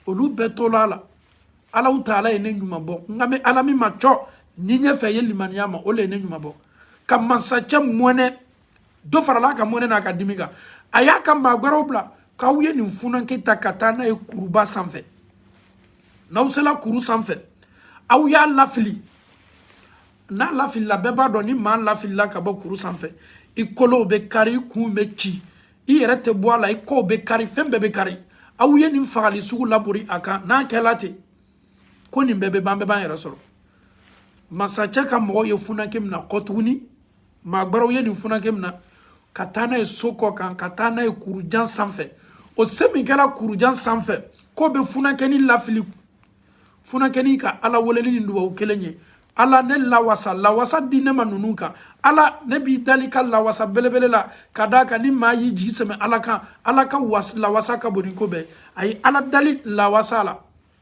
olu bɛɛ tola a la alahu taala ye ne ɲuman bɔ n kan bɛ ala min ma cɔ ni ɲɛfɛ ye limaniya ma o le ye ne ɲuman bɔ ka masacɛ mɔnɛ dɔ farala a ka mɔnɛ n'a ka dimi kan a y'a ka maa gbɛrɛw bila k'aw ye nin funanke ta ka taa n'a ye kuruba sanfɛ n'aw sela kuru sanfɛ aw y'a lafili n'a lafilila bɛɛ b'a dɔn ni maa lafilila ka bɔ kuru sanfɛ i kolow bɛ kari i kun bɛ ci i yɛrɛ tɛ bɔ a la i kɔw bɛ kari fɛn bɛɛ bɛ kari aw ye nin fagali sugu labori a kan n'a kɛla ten ko nin bɛɛ bɛ ban bɛɛ b'an yɛrɛ sɔrɔ masacɛ ka mɔgɔw ye funake mina kɔ tuguni maa gbɛrɛw ye nin funake mina ka taa n'a ye so kɔ kan ka taa n'a ye kurujan sanfɛ o se min kɛra kurujan sanfɛ k'o bɛ funakɛni lafili funakɛni ka ala wele le ni dubabu kelen ye ala ne lawasa lawasa di ne ma ninnu kan ala ne b'i dali ka lawasa belebele la ka d'a kan ni maa y'i jigi sɛmɛ ala kan ala ka was lawasa ka bon ni ko bɛɛ a ye ala dali lawasa la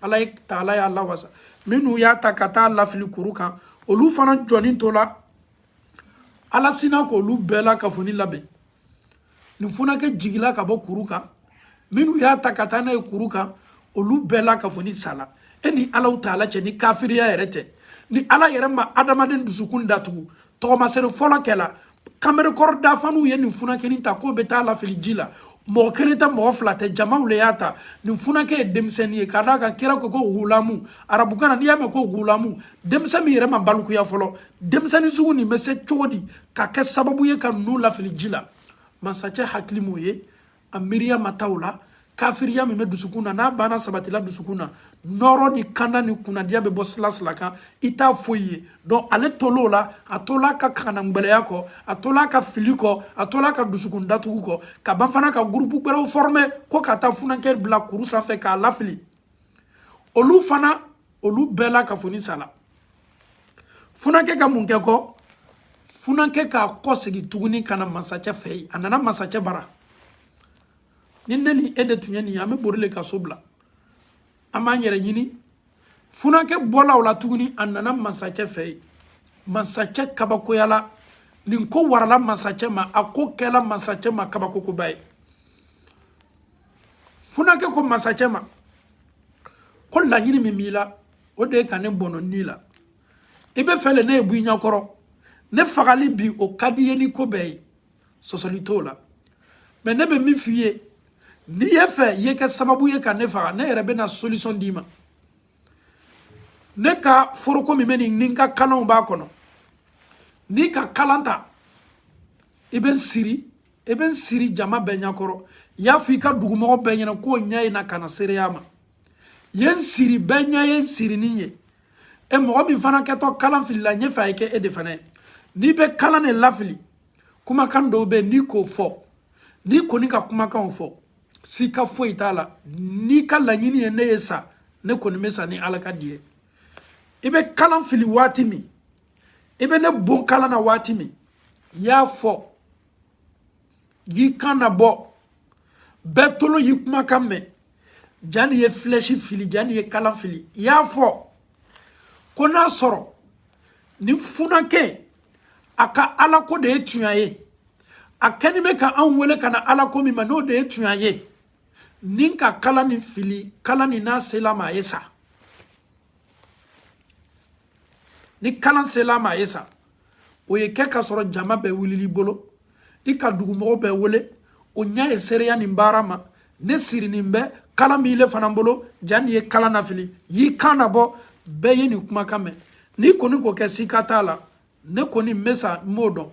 alahu taala y'a lawasa minnu y'a ta ka taa lafili kuru kan olu fana jɔni tola ala sinna k'olu bɛɛ lakafonin laben nin funakɛ jigila ka bɔ kuru kan minnu y'a ta ka taa n'a ye kuru kan olu bɛɛ lakafonin sala e ni alahu taala cɛ ni kafiriya yɛrɛ tɛ ni ala yɛrɛ ma adamaden dusukun datugu tagamasere fɔlɔ kɛla kanberekɔrɔ dafaniw ye nin funakɛnin ta k'o bɛ taa lafili ji la mɔgɔ kelen tɛ mɔgɔ fila tɛ jamaw le y'a ta nin funakɛ ye denmisɛnnin ye ka d'a kan kira ko ko gulamu arabukan na n'i y'a mɛn ko gulamu denmisɛn min yɛrɛ ma balikuya fɔlɔ denmisɛnnin sugu nin bɛ se cogo di ka kɛ sababu ye ka ninnu lafili ji la masacɛ hakili m'o ye a miiriya ma taa o la kafiriya min bɛ dusukun na n'a banna sabatila dusukun na nɔɔrɔ ni kanda ni kunnadiya bɛ bɔ silasila kan i t'a foyi ye donc ale tol'o la a tola a ka kanangbɛlɛya kɔ a tola a ka fili kɔ a tola a ka dusukun datugu kɔ ka ban fana ka gurupu gbɛrɛw forme ko ka taa funankɛ bila kuru sanfɛ k'a lafili olu fana olu bɛɛ lakafonin sala funakɛ ka mun kɛ kɔ funakɛ k'a kɔsegin tuguni ka na masacɛ fɛ yen a nana masacɛ bara ni ne ni e de tun ye nin ye an bɛ bori le ka so bila an b'an yɛrɛ ɲini funakɛ bɔla o la tuguni a nana masacɛ fɛ yen masacɛ kabakoyala nin ko warala masacɛ ma a ko kɛla masacɛ ma kabako koba ye funankɛ ko masacɛ ma ko laɲini min b'i la o de ye ka ne bɔnɔ n ni la i b'a fɛ le ne ye bɔ i ɲɛkɔrɔ ne fagali bi o ka d'i ye ni ko bɛɛ ye sɔsɔli t'o la mɛ ne bɛ min f'i ye n'i y'a fɛ i ye kɛ sababu ye ka ne faga ne yɛrɛ bɛna solution d'i ma ne ka foroko min bɛ nin ni n ka kalanw b'a kɔnɔ n'i ka kalan ta i bɛ n siri i bɛ n siri jama bɛɛ ɲɛkɔrɔ i y'a fɔ i ka dugumɔgɔ bɛɛ ɲɛna k'o ɲɛ ye na ka na seereya ma i ye n siri bɛɛ ɲɛ ye n sirinin ye e mɔgɔ min fana kɛtɔ kalan filila n y'a fɛ a ye kɛ e de fana ye n'i bɛ kalan de lafili kumakan dɔw bɛ yen n'i k'o fɔ n'i kɔni ka kumakanw fɔ sika foyi t'a la n'i ka laɲini ye ne ye sa ne kɔni bɛ sa ni ala ka di ye i bɛ kalan fili waati min i bɛ ne bon kalan na waati min i y'a fɔ y'i kan nabɔ bɛɛ tolo y'i kumakan mɛn jani i ye filɛsi fili jani i ye kala fili i y'a fɔ ko n'a sɔrɔ nin funankɛ a ka alako de ye tunya ye a kɛnin bɛ ka anw wele ka na alako min ma n'o de ye tunya ye ni n ka kala nin fili kala nin n'a sel'a ma a ye sa ni kalan sel'a ma a ye sa o ye kɛ ka sɔrɔ jama bɛɛ wulili bolo i ka dugumɔgɔw bɛɛ wele o ɲɛ ye seereya nin baara ma ne sirinin bɛ kalan b'ile fana bolo jani i ye kala nafili y'i kan nabɔ bɛɛ ye nin kumakan mɛn n'i kɔni k'o kɛ sika t'a la ne kɔni n bɛ sa n b'o dɔn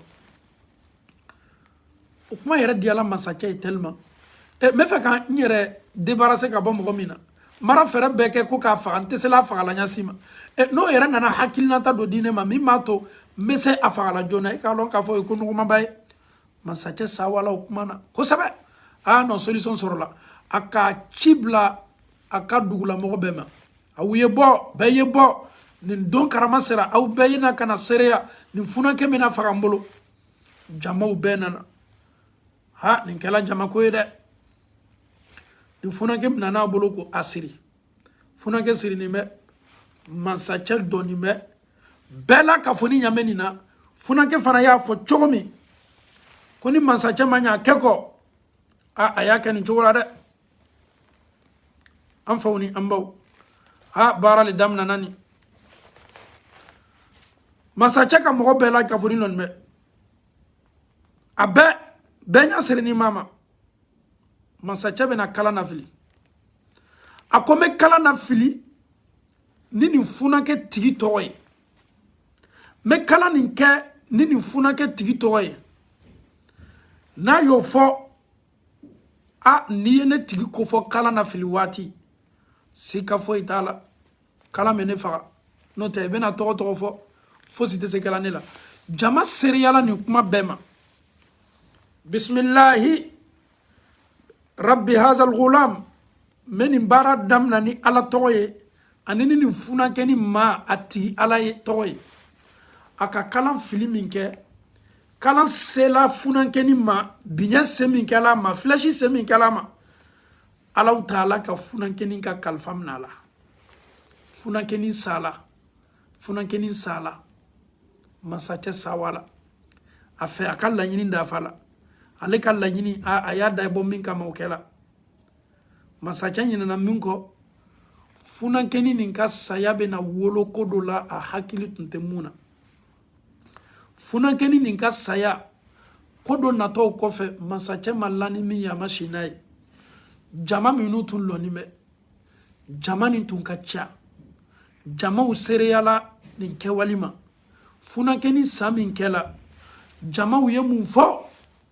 o kuma yɛrɛ diyala masacɛ ye tellement n b'a fɛ ka n yɛrɛ débarrasser ka bɔ mɔgɔ min na n bara fɛɛrɛ bɛɛ kɛ ko k'a faga n tɛ sela a fagala ɲa si ma n'o yɛrɛ nana hakilinata dɔ di ne ma min b'a to n bɛ se a fagala joona i k'a dɔn k'a fɔ o ye ko nɔgɔmaba ye masacɛ sawala o kuma na kosɛbɛ a y'a lɔn solution sɔrɔla a ka ci bila a ka dugulamɔgɔ bɛɛ ma aw ye bɔ bɛɛ ye bɔ nin don karama sera aw bɛɛ ye na ka na seereya nin funankɛ bɛna faga n bolo jamaw bɛɛ nana ha nin kɛla jamako ye dɛ nin funankɛ bɛna n'a bolo ko a siri funankɛ sirinin bɛ mansacɛ lɔnin bɛ bɛɛ lakafonin ɲa bɛ nin na funankɛ fana y'a fɔ cogo min ko ni mansacɛ ma ɲɛ a kɛ kɔ a a y'a kɛ nin cogo la dɛ an faw ni an baw a baara le daminana ni masacɛ ka mɔgɔ bɛɛ lakafonin lɔnin bɛ a bɛɛ bɛɛ ɲa sirinin b'a ma masacɛ bɛna kala nafili a ko n bɛ kala nafili ni nin funankɛ tigi tɔgɔ ye n bɛ kala nin kɛ ni nin funankɛ tigi tɔgɔ ye n'a y'o fɔ a n'i ye ne tigi kofɔ kalan nafili waati sika foyi t'a la kalan bɛ ne faga n'o tɛ i bɛna tɔgɔ o tɔgɔ fɔ fosi tɛ se kɛla ne la jama seereyala nin kuma bɛɛ ma bisimilahi rabbi hazal gulam n bɛ nin baara damina ni ala tɔgɔ ye ani ni nin funankɛni maatigi ala tɔgɔ ye a ka kalan fili min kɛ kalan sela funankɛni ma biɲɛ se min kɛla a ma flèche se min kɛla a ma alahu taala ka funankɛni ka kalifa minɛ a la funankɛni sala funankɛni sala masakɛ sɛwala a fɛ a ka laɲini dafala ale ka laɲini a y'a dabɔ min kama o kɛla Masakɛ ɲinɛna min kɔ funankɛni nin ka saya bɛna wolo ko dɔ la a hakili tun tɛ mun na funankɛni nin ka saya ko dɔ natɔ o kɔfɛ masakɛ ma la ni min ye a ma si n'a ye jama minnu tun lɔnin bɛ jama nin tun ka ca jamaw seereyala nin kɛwale ma funankɛni sa min kɛla jamaw ye mun fɔ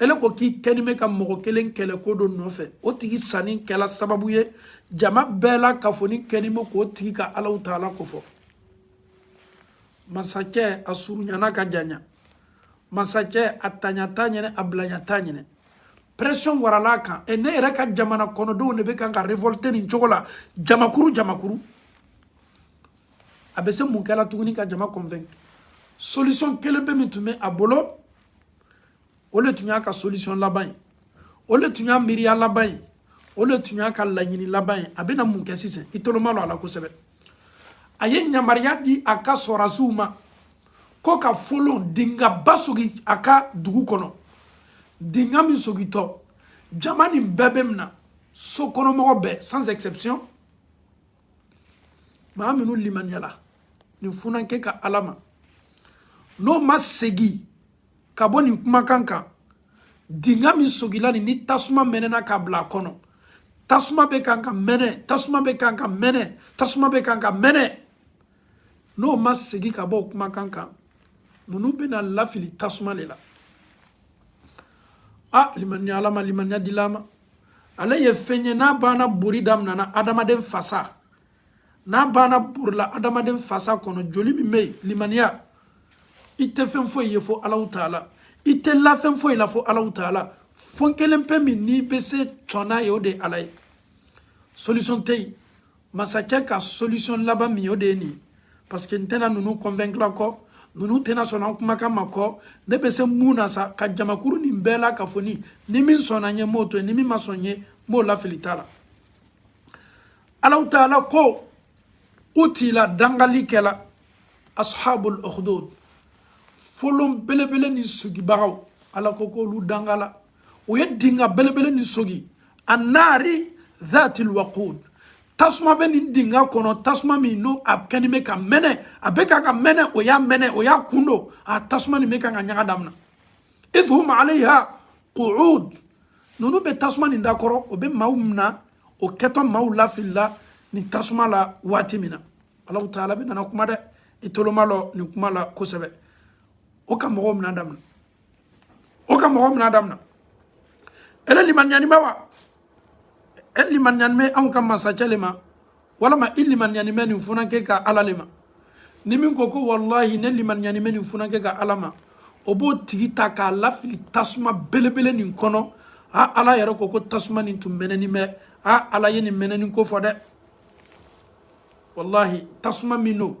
ele ko k'i kɛnin bɛ ka mɔgɔ kelen kɛlɛ ko dɔ nɔfɛ o tigi sanin kɛla sababu ye jama bɛɛ lakafonin kɛnin bɛ k'o tigi ka alahu taala kofɔ masakɛ a surunyana ka janya masakɛ a taɲa t'a ɲɛ na a bilaɲa t'a ɲɛ na pression warala a kan e ne yɛrɛ ka jamana kɔnɔdenw de bɛ kan ka révolter nin cogo la jamakuru jamakuru a bɛ se mun kɛla tuguni ka jama convainc solution kelen bɛ min tun bɛ a bolo o de tun y'a ka solution laban ye o de tun y'a miiriya laban ye o de tun y'a ka laɲini laban ye a bɛna mun kɛ sisan i tolo madon a la kosɛbɛ a ye yamaruya di a ka sɔrɔdasiw ma ko ka folon dingaba sogi a ka dugu kɔnɔ dinga min sogitɔ jama nin bɛɛ bɛ mina sokɔnɔmɔgɔ bɛɛ sans exception maa minnu limaniyala nin funankɛ ka ala ma n'o ma segin ka bɔ nin kumakan kan dinga min sogila nin ni tasuma mɛnɛna k'a bila a kɔnɔ tasuma bɛ kan ka mɛnɛ tasuma bɛ kan ka mɛnɛ tasuma bɛ kan ka mɛnɛ n'o ma segin ka bɔ o kumakan kan ninnu bɛna lafili tasuma de la a limaniya ala ma limaniya dila an ma ale ye fɛn ye n'a banna bori daminɛna adamaden fasa n'a banna borila adamaden fasa kɔnɔ joli min bɛ yen limaniya i tɛ fɛn foyi ye fo alahu taala i tɛ la fɛn foyi la fo alahu taala fɛn kelen pe min n'i bɛ se to n'a ye o de ye ala ye solution tɛ yen masakɛ ka solution laban min o de ye nin parce que n tɛna ninnu convaincre kɔ ninnu tɛna sɔn an kumakan ma kɔ ne bɛ se mun na sa ka jamakuru nin bɛɛ la k'a fɔ ni ni min sɔnna n ye n b'o to yen ni min ma sɔn n ye n b'o lafili ta la alahu taala ko qutila dangali kɛla ashabul ukhdud folon belebele nin sogibagaw ala ko k'olu dangala o ye dinga belebele nin sogi annaari dhatil waqud tasuma bɛ nin dinga kɔnɔ tasuma min n'o a kɛni bɛ ka mɛnɛ a bɛ ka ka mɛnɛ o y'a mɛnɛ o y'a kun don a tasuma nin bɛ ka ka ɲaga daminɛ idh hum alayha qu'ud ninnu bɛ tasuma nin da kɔrɔ o bɛ maaw minɛ o kɛtɔ maaw lafilila nin tasuma la waati min na alahu taala bɛ nana kuma dɛ i tolo malɔ nin kuma la kosɛbɛ o ka mɔgɔw minɛ daminɛ o ka mɔgɔ mina damina ele limaniyani bɛ wa e limaniyani bɛ anw ka masacɛ le ma walama i limaniyani bɛ nin funankɛ ka ala le ma ni min ko ko walahi ne limaniyani bɛ nin funankɛ ka ala ma o b'o tigi ta k'a lafili tasuma belebele nin kɔnɔ a ala yɛrɛ ko ko tasuma nin tun mɛnɛni bɛ a ala ye nin mɛnɛni ko fɔ dɛ walahi tasuma min don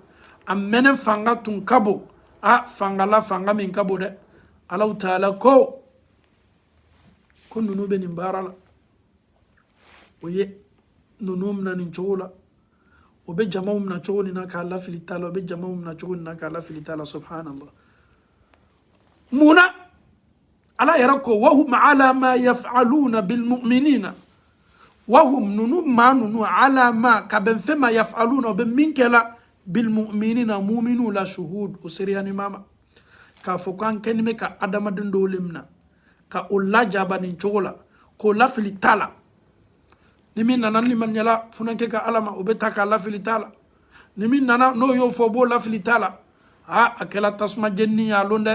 a mɛnɛ fanga tun ka bon a fanga la fanga min ka bon dɛ alahu taala ko ko ninnu bɛ nin baara la o ye ninnu mina nin cogo la o bɛ jamaw mina cogo nin na k'a lafili ta la o bɛ jamaw mina cogo nin na k'a lafili ta la subhanallah mun na ala yɛrɛ ko wahum ala ma yafaluna bilmuminina wahum ninnu maa ninnu ala ma ka bɛn fɛn ma yafaluna o bɛ min kɛ la bilmuminina muminu la shuhud o sereyani b'a ma k'a fɔ k'an kɛni bɛ ka adamaden dɔw le mina ka o lajaba nin cogo la k'o lafili ta la ni min nana limaniyala funankɛ ka ala ma o bɛ ta k'a lafili ta la ni min nana n'o y'o fɔ o b'o lafili ta la a a kɛla tasuma jenini y'a lon dɛ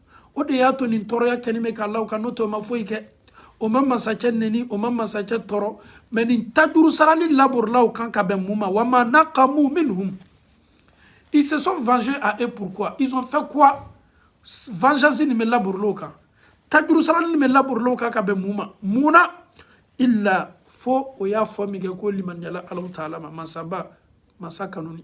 o de y'a to nin tɔɔrɔya kɛni bɛ ka la o kan n'o tɛ o ma foyi kɛ o ma masakɛ neni o ma masakɛ tɔɔrɔ mais nin tajuru sarali laborila o kan ka bɛn mun ma wa ma naqamu minhum ils se sont vengés à eux pourquoi ils ont fait quoi vengeance nin bɛ laborila o kan tajuru sarali nin bɛ laborila o kan ka bɛn mun ma mun na illa fo o y'a fɔ min kɛ k'o limaniyala alahu taala ma masaba masa kanuni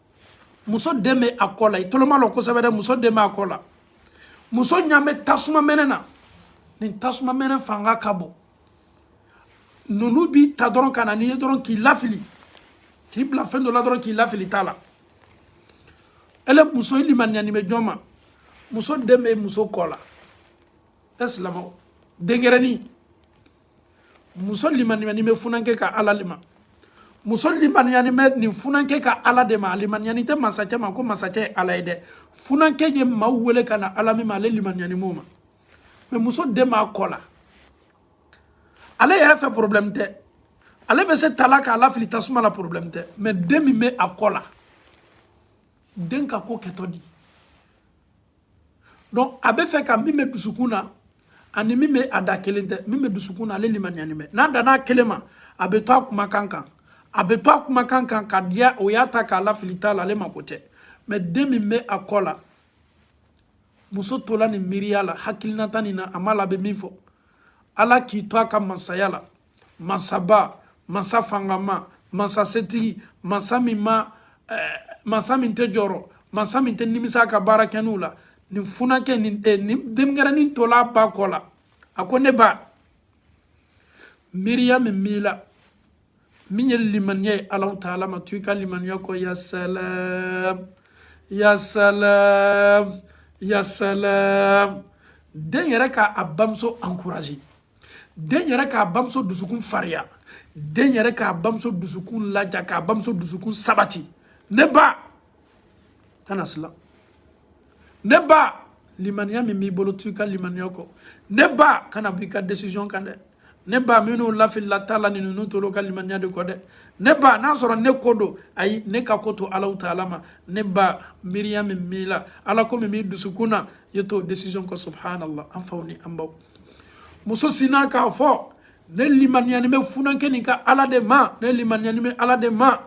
muso den bɛ a kɔ la i tolo malɔ kosɛbɛ dɛ muso den bɛ a kɔ la muso ɲan bɛ tasuma mɛnɛ na nin tasuma mɛnɛ fanga ka bon ninnu b'i ta dɔrɔn ka na n'i ye dɔrɔn k'i lafili k'i bila fɛn dɔ la dɔrɔn k'i lafili ta la ele muso i limaniyani bɛ jɔn ma muso den bɛ muso kɔ la e silamɛw denɲɛrɛnin muso limaniyani bɛ funankɛ ka ala le ma muso limaniyani bɛ nin funankɛ ka ala de ma limaniyani tɛ masakɛ ma ko masakɛ ye ala ye dɛ funankɛ ye maaw wele ka na ala min ma ale limaniyani b'o ma mais muso den b'a kɔ la ale yɛrɛ fɛ porobilɛmu tɛ ale bɛ se tala k'a lafili tasuma la porobilɛmu tɛ mais den min bɛ a kɔ la den ka ko kɛtɔ di donc a bɛ fɛ ka min bɛ dusukun na ani min bɛ a da kelen tɛ min bɛ dusukun na ale limaniyani bɛ n'a danna kelen ma a bɛ to a kumakan kan a bɛ to a kumakan kan ka diya o y'a ta k'a lafili ta la ale mako tɛ mais den min bɛ a kɔ la muso tola nin miiriya la hakilinata nin na a m'a lɔn a bɛ min fɔ ala k'i to a ka masaya la masaba masa fangama masa setigi masa min ma eh, masa min tɛ jɔrɔ masa min tɛ nimisa a ka baara kɛninw la nin funankɛ nin eh, nin denmisɛnnin tola ba kɔ la a ko ne ba miiriya min b'i la min ye limaniya ye alaw taala ma to i ka limaniya kɔ ya salam ya salam ya salam den yɛrɛ ka a bamuso encourage den yɛrɛ k'a bamuso dusukun fariya den yɛrɛ k'a bamuso dusukun laja k'a bamuso dusukun sabati ne ba kana silan ne ba limaniya min b'i bolo t'i ka limaniya kɔ ne ba kana b'i ka decision kan dɛ ne ba minnu lafilila ta la ni ninnu tor'o ka limaniya de kɔ dɛ ne ba n'a sɔrɔ ne ko don ayi ne ka ko to alaw taala ma ne ba miiriya min b'i la ala ko min b'i dusukun na i t'o decision kɔ subhanallah an faw ni an baw muso sinna k'a fɔ ne limaniyani bɛ funankɛ nin ka ala de ma ne limaniyani bɛ ala de ma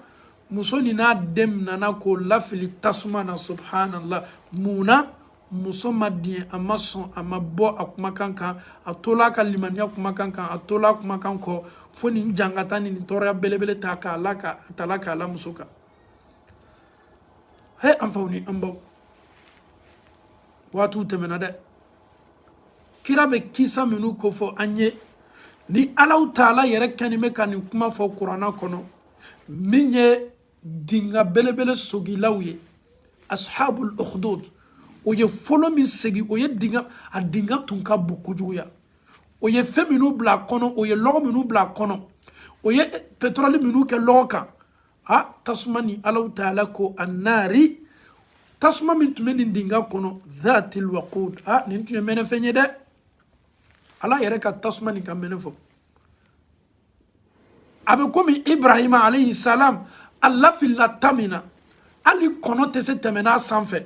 muso nin n'a den minana k'o lafili tasuma na subhanallah mun na muso ma diɲɛ a ma sɔn a ma bɔ a kumakan kan a tola a ka limaniya kumakan kan a tola a kumakan kɔ fo nin jangata ni nin tɔɔrɔya belebele ta k'a la ka tala k'a la muso kan he an faw ni an baw waatiw tɛmɛna dɛ kira bɛ kisa minnu kofɔ an ye ni alaw taala yɛrɛ kɛni bɛ ka nin kuma fɔ kurana kɔnɔ min ye dinga belebele sogilaw ye ashabul ukhdud o ye folon min segi o ye dinga a dinga tun ka bon kojuguya o ye fɛn minnu bila a kɔnɔ o ye lɔgɔ minnu bila a kɔnɔ o ye petrɔli minnu kɛ lɔgɔ kan a tasuma ni alaw taala ko annaari tasuma min tun bɛ nin dinga kɔnɔ dhatil waqud a nin tun ye mɛnɛfɛn ye dɛ ala yɛrɛ ka tasuma nin ka mɛnɛ fɔ a bɛ komi ibrahima alayhi salam a lafilila ta min na hali kɔnɔ tɛ se tɛmɛn'a sanfɛ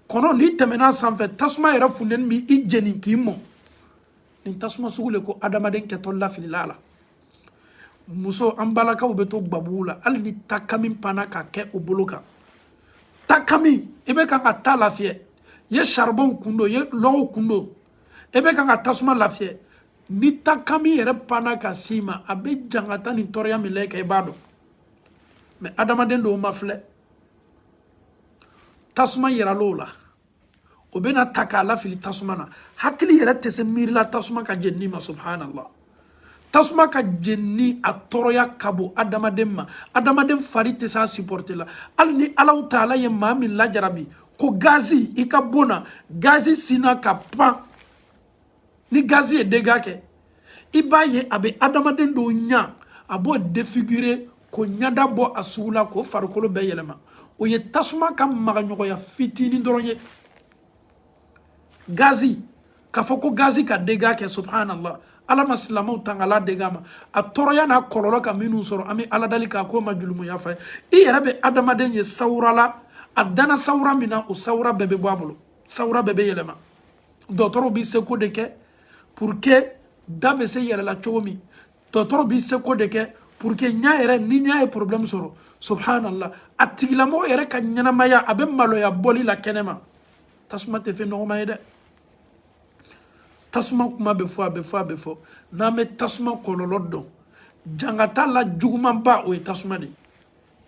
kɔnɔ n'i tɛmɛn'a sanfɛ tasuma yɛrɛ funteni b'i i jeni k'i mɔ nin tasuma sugu le ko adamaden kɛtɔ lafilila a la muso an balakaw bɛ to gbabugu la hali ni takami panna ka kɛ o bolo kan takami i bɛ kan ka ta lafiyɛ ye charbon kun don ye lɔgɔw kun don i bɛ kan ka tasuma lafiyɛ ni takami yɛrɛ panna ka s'i ma a bɛ jangata ni tɔɔrɔya min la i kan i b'a dɔn mais adamaden dɔw ma filɛ tasuma yiral'o la o bɛna ta k'a lafili tasuma na hakili yɛrɛ tɛ se miirila tasuma ka jenini ma subhanallah tasuma ka jenini a tɔɔrɔya ka bon adamaden ma adamaden fari tɛ se a supporter la hali ni alaw taala ye maa min lajarabi ko gazi i ka bon na gazi sinna ka pan ni gazi ye dégât kɛ i b'a ye a bɛ adamaden dɔw ɲa a b'o défigurer k'o ɲada bɔ a sugu la k'o farikolo bɛɛ yɛlɛma o ye tasuma ka magaɲɔgɔnya fitinin dɔrɔn ye gazi k'a fɔ ko gazi ka dégât kɛ subhanallah ala ma silamɛw tangala dégât ma a tɔɔrɔya n'a kɔlɔlɔ ka minnu sɔrɔ an bɛ ala dali k'a k'o ma julumu yafa ye i yɛrɛ bɛ adamaden ye sawura la a dana sawura min na o sawura bɛɛ bɛ bɔ a bolo sawura bɛɛ bɛ yɛlɛma dɔgɔtɔrɔw bɛ seko de kɛ pour que da bɛ se yɛlɛ la cogo min dɔgɔtɔrɔw bɛ seko de kɛ pour que ɲa yɛrɛ ni ɲa ye problème sɔrɔ subhanallah a tigilamɔgɔ yɛrɛ ka ɲɛnamaya a bɛ maloya bɔli la kɛnɛma tasuma tɛ fɛn nɔgɔman ye dɛ tasuma kuma bɛ fɔ a bɛ fɔ a bɛ fɔ n'an bɛ tasuma kɔlɔlɔ dɔn jangata la jugumanba o ye tasuma de ye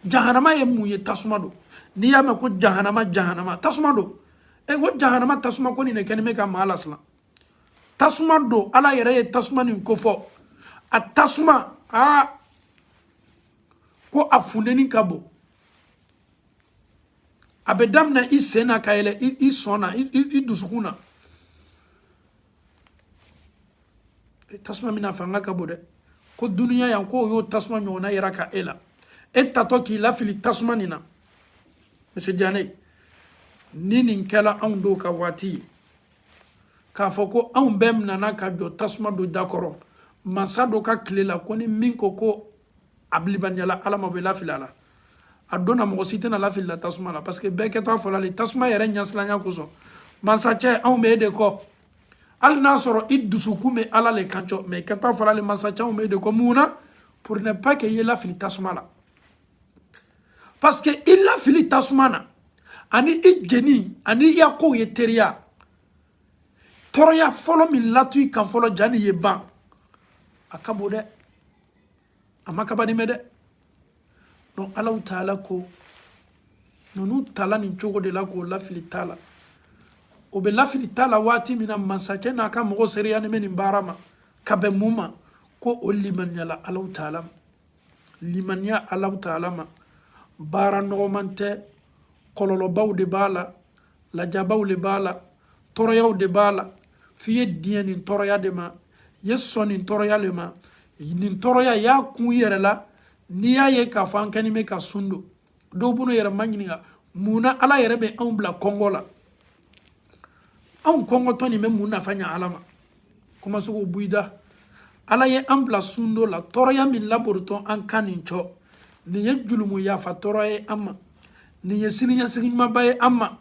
jahanama ye mun ye tasuma don n'i y'a mɛn ko jahanama jahanama tasuma don e ko jahanama tasuma ko nin de kɛlen bɛ ka maa lasiran tasuma don ala yɛrɛ ye tasuma nin kofɔ a tasuma aa ko a funteni ka bon a bɛ daminɛ i sen na ka yɛlɛ i sɔn na i dusukun na e, tasuma min na fanga ka bon dɛ ko dunuya yan k'o y'o tasuma ɲɔgɔnna yiraka e la e tatɔ k'i lafili tasuma nin na monsieur diane ni nin kɛla anw dɔw ka waati ye k'a fɔ ko anw bɛɛ minana ka jɔ tasuma dɔ da kɔrɔ mansa dɔ ka tile la ko ni min ko ko a bi limaniyala ala ma bɛ lafili a la a donna mɔgɔ si tɛna lafili la tasuma la parce que bɛɛ kɛtɔ a fɔla le tasuma yɛrɛ ɲɛsilanya kosɔn mansacɛ anw bɛ e de kɔ hali n'a sɔrɔ i dusukun bɛ ala le kan cɔ mais i kɛtɔ a fɔla le mansacɛ anw bɛ e de kɔ mun na pour ne pas que i ye lafili tasuma la parce que i lafili tasuma na ani i jeni ani i ya kow ye teriya tɔɔrɔya fɔlɔ min latɔ i kan fɔlɔ jani i ye ban a ka bon dɛ a ma kaba nimɛ dɛ donc alahu taala ko ninnu tala nin cogo de la k'o lafili ta la o bɛ lafili ta la waati min na mansacɛ n'a ka mɔgɔ seereyanin bɛ nin baara ma ka bɛn mun ma ko o limaniyala alahu taala ma limaniya alahu taala ma baara nɔgɔman tɛ kɔlɔlɔbaw de b'a la lajabaw le b'a la tɔɔrɔyaw de b'a la f'i ye diɲɛ nin tɔɔrɔya de ma i ye sɔn nin tɔɔrɔya le ma nin tɔɔrɔya y'a kun yɛrɛ la n'i y'a ye k'a fɔ an kɛni bɛ ka sun don dɔw b'o yɛrɛ maɲininka mun na ala yɛrɛ bɛ anw bila kɔngɔ la anw kɔngɔtɔ nin bɛ mun nafa ɲa ala ma kuma sugu buida ala ye an bila sundon la tɔɔrɔya min laborotɔn an kan nin cɔ nin ye julumu yafa tɔɔrɔ ye an ma nin ye siniɲɛsigi ɲumanba ye an ma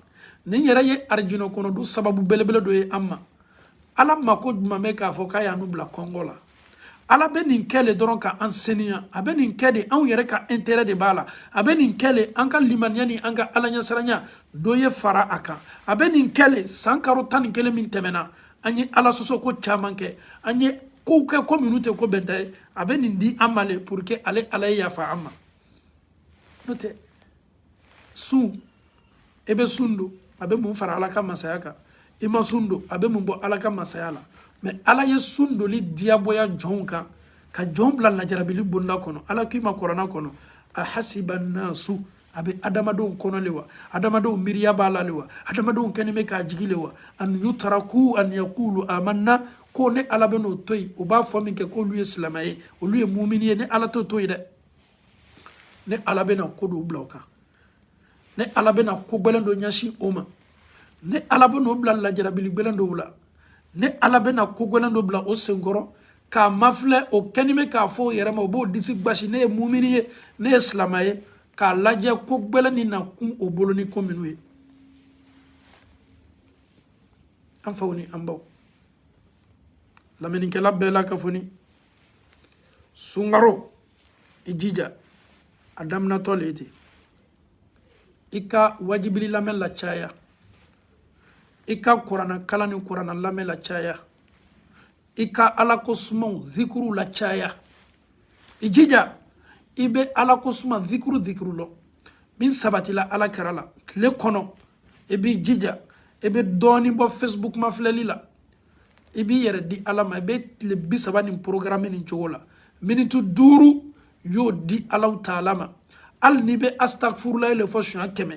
nin yɛrɛ ye arijinɛ kɔnɔdon sababu belebele dɔ ye an ma ala mako juman bɛ k'a fɔ k'a y'an bila kɔngɔ la ala bɛ nin kɛ le dɔrɔn ka an seniya a bɛ nin kɛ de anw yɛrɛ ka intérêt de b'a la a bɛ nin kɛ le an ka limaniya ni an ka alaɲɛsiranya dɔ ye fara a kan a bɛ nin kɛ le san karo tan ni kelen min tɛmɛna an ye ala sɔsɔ ko caman kɛ an ye kow kɛ ko minnu tɛ ko bɛnta ye a bɛ nin di an ma le pour que ale ala ye yafa an ma n'o tɛ sun e bɛ sun don a bɛ mun fara ala ka masaya kan i ma sun don a bɛ mun bɔ ala ka masaya la mais ala ye sun doli diyagoya jɔnw kan ka jɔn bila lajarabili bonda kɔnɔ ala k'i ma kurana kɔnɔ a hasiba nasu a bɛ adamadenw kɔnɔ le wa adamadenw miiriya b'a la le wa adamadenw kɛni bɛ k'a jigi le wa an yutaraku an yakulu amanna ko ne ala bɛn'o to yen o b'a fɔ minkɛ k'olu ye silama ye olu ye mumini ye ne ala t'o to yen dɛ ne ala bɛna ko dɔw bila o kan ne ala bɛna ko gɛlɛn dɔ ɲɛsin o ma ne ala bɛna o bila lajarabili gɛlɛn dɔw la ne ala bɛna ko gɛlɛn dɔ bila o senkɔrɔ k'a mafilɛ o kɛni bɛ k'a fɔ o yɛrɛ ma o b'o disi basi ne ye mumini ye ne ye silama ye k'a lajɛ ko gɛlɛn nin na kun o bolo nin ko minnu ye an faw ni an baw lamɛnnikɛla bɛɛ lakafonin sunkaro i jija a daminɛtɔ le ye ten i ka wajibili lamɛn lacaya i ka kuranna kalan ni kuranna lamɛn lacaya i ka ala ko sumaw zikuru lacaya i jija i bɛ ala ko suma zikuru zikuru lɔ min sabatila ala kira la tile kɔnɔ i b'i jija i bɛ dɔɔnin bɔ facebook mafilɛli la i b'i yɛrɛ di ala ma i bɛ tile bi saba nin porogaramu nin cogo la miniti duuru y'o di ala taala ma hali n'i bɛ asitagifurulayi le fɔ suɲɛ kɛmɛ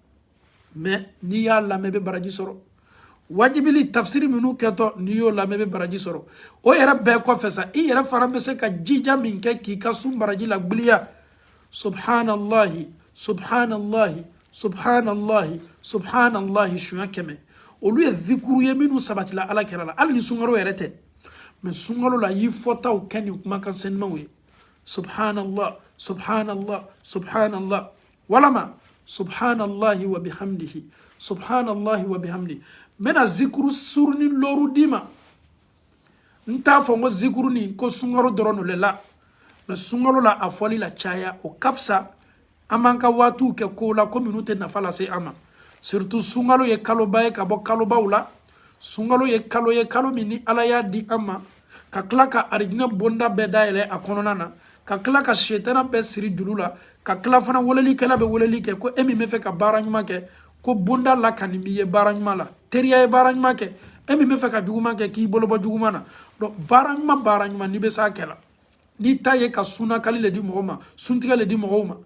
mɛ n'i y'a lamɛn i bɛ baraji sɔrɔ waajuli tafsiri minnu kɛtɔ n'i y'o lamɛn i bɛ baraji sɔrɔ o yɛrɛ bɛɛ kɔfɛ sa i yɛrɛ fana bɛ se ka jija min kɛ k'i ka sun baraji lagbiliya subhanallahi subhanallahi subhanallahi subhanallahi suɲɛ kɛmɛ olu ye zikuru ye minnu sabatila ala kira la hali ni sunkalo yɛrɛ tɛ mɛ sunkalo la y'i fɔtaw kɛ nin kumakan senimaw ye subhanallah subhanallah subhanallah walama subhanallahi wa bihamdihi subhanallahi wa bihamdi n bɛna zikuru surunin looru d'i ma n t'a fɔ ko zikuru nin ko sunkalo dɔrɔn le la mɛ sunkalo la a fɔli lacaya o ka fisa an b'an ka waatiw kɛ kow la ko minnu tɛ nafa lase an ma surtout sunkalo ye kaloba ye ka bɔ kalobaw la sunkalo ye kalo ye kalo min ni ala y'a di an ma ka tila ka arijinɛ bonda bɛɛ dayɛlɛ a kɔnɔna na ka tila ka setana bɛɛ siri juru la ka tila fana welelikɛla bɛ weleli kɛ ko e min bɛ fɛ ka baara ɲuman kɛ ko bonda lakanin b'i ye baara ɲuman lateriya ye baara ɲuman kɛ e min bɛ fɛ ka juguman kɛ k'i bolo bɔ juguman na donc baara ɲuman baara ɲuman n'i bɛ s'a kɛ la n'i ta ye ka sunakali le di mɔgɔ ma suntigɛ le di mɔgɔw ma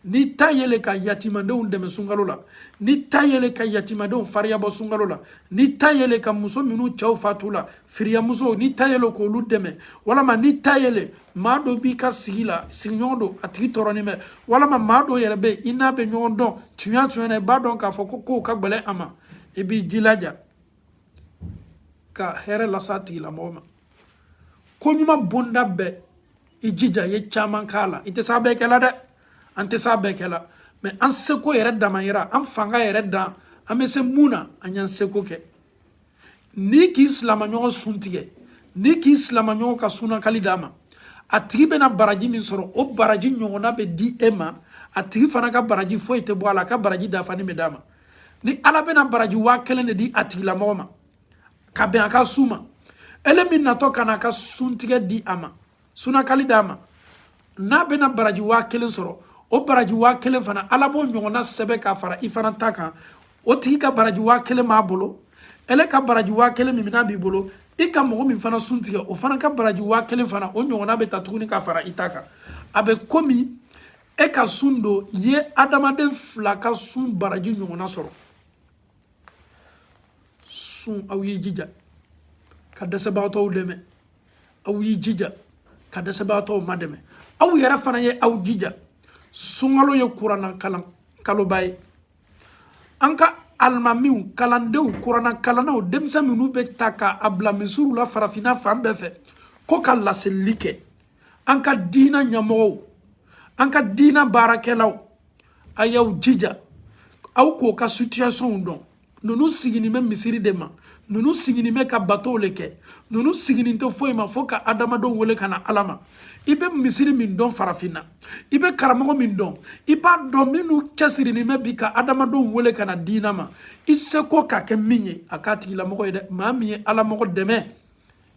n'i ta ye le ka yatimadenw dɛmɛ sunkalo la n'i ta ye le ka yatimadenw fariya bɔ sunkalo la n'i ta ye le ka muso minnu cɛw fatula firiyamusow n'i ta ye le k'olu dɛmɛ walama n'i ta ye le maa dɔ b'i ka sigi la sigiɲɔgɔn don a tigi tɔɔrɔnin bɛ walama maa dɔ yɛrɛ bɛ i n'a bɛ ɲɔgɔn dɔn tuɲa tuɲa na i b'a dɔn k'a fɔ ko kow ka gɛlɛn a ma i b'i jilaja ka hɛrɛ las'a tigilamɔgɔ ma ko ɲuman bonda bɛɛ i jija i ye caman k'a la i tɛ s'a bɛɛ kɛ la dɛ an tɛ s'a bɛɛ kɛ la mɛ an seko yɛrɛ damayira an fanga yɛrɛ dan an bɛ se mun na an y'an seko kɛ n'i k'i silamaɲɔgɔn sun tigɛ n'i k'i silamaɲɔgɔn ka sunakali d'a ma a tigi bɛna baraji min sɔrɔ o baraji ɲɔgɔnna bɛ di e ma a tigi fana ka baraji foyi tɛ bɔ a la a ka baraji dafanin bɛ d'a ma ni ala bɛna baraji waa kelen de di a tigilamɔgɔ ma ka bɛn a ka sun ma ele min natɔ ka na a ka suntigɛ di a ma sunakali d'a ma n'a bɛna baraji waa kelen sɔrɔ o baraji waa kelen fana ala b'o ɲɔgɔnna sɛbɛn ka fara i fana ta kan o tigi ka baraji waa kelen b'a bolo ele ka baraji waa kelen min n'a b'i bolo i ka mɔgɔ min fana sun tigɛ o fana ka baraji waa kelen fana o ɲɔgɔnna bɛ ta tuguni ka fara i ta kan a bɛ komi e ka sun don ye adamaden fila ka sun baraji ɲɔgɔnna sɔrɔ sun aw y'i jija ka dɛsɛbagatɔw dɛmɛ aw y'i jija ka dɛsɛbagatɔw madɛmɛ aw yɛrɛ fana ye aw jija sunkalo ye kuranna kalan kaloba ye an ka alimamiw kalandenw kuranna kalannaw denmisɛn minnu bɛ ta ka a bila misiriw la farafinna fan bɛɛ fɛ k'o ka laseli kɛ an ka diina ɲɛmɔgɔw an ka diina baarakɛlaw a y'aw jija aw k'o ka sitiyasɔnw dɔn ninnu siginin bɛ misiri de ma ninnu siginin bɛ ka batow le kɛ ninnu siginin tɛ foyi ma fo ka adamadenw wele ka na ala ma i bɛ misiri min dɔn farafinna i bɛ karamɔgɔ min dɔn i b'a dɔn minnu cɛsirinin bɛ bi ka adamadenw wele ka na diina ma i seko ka kɛ min ye a k'a tigilamɔgɔ ye dɛ maa min ye alamɔgɔ dɛmɛ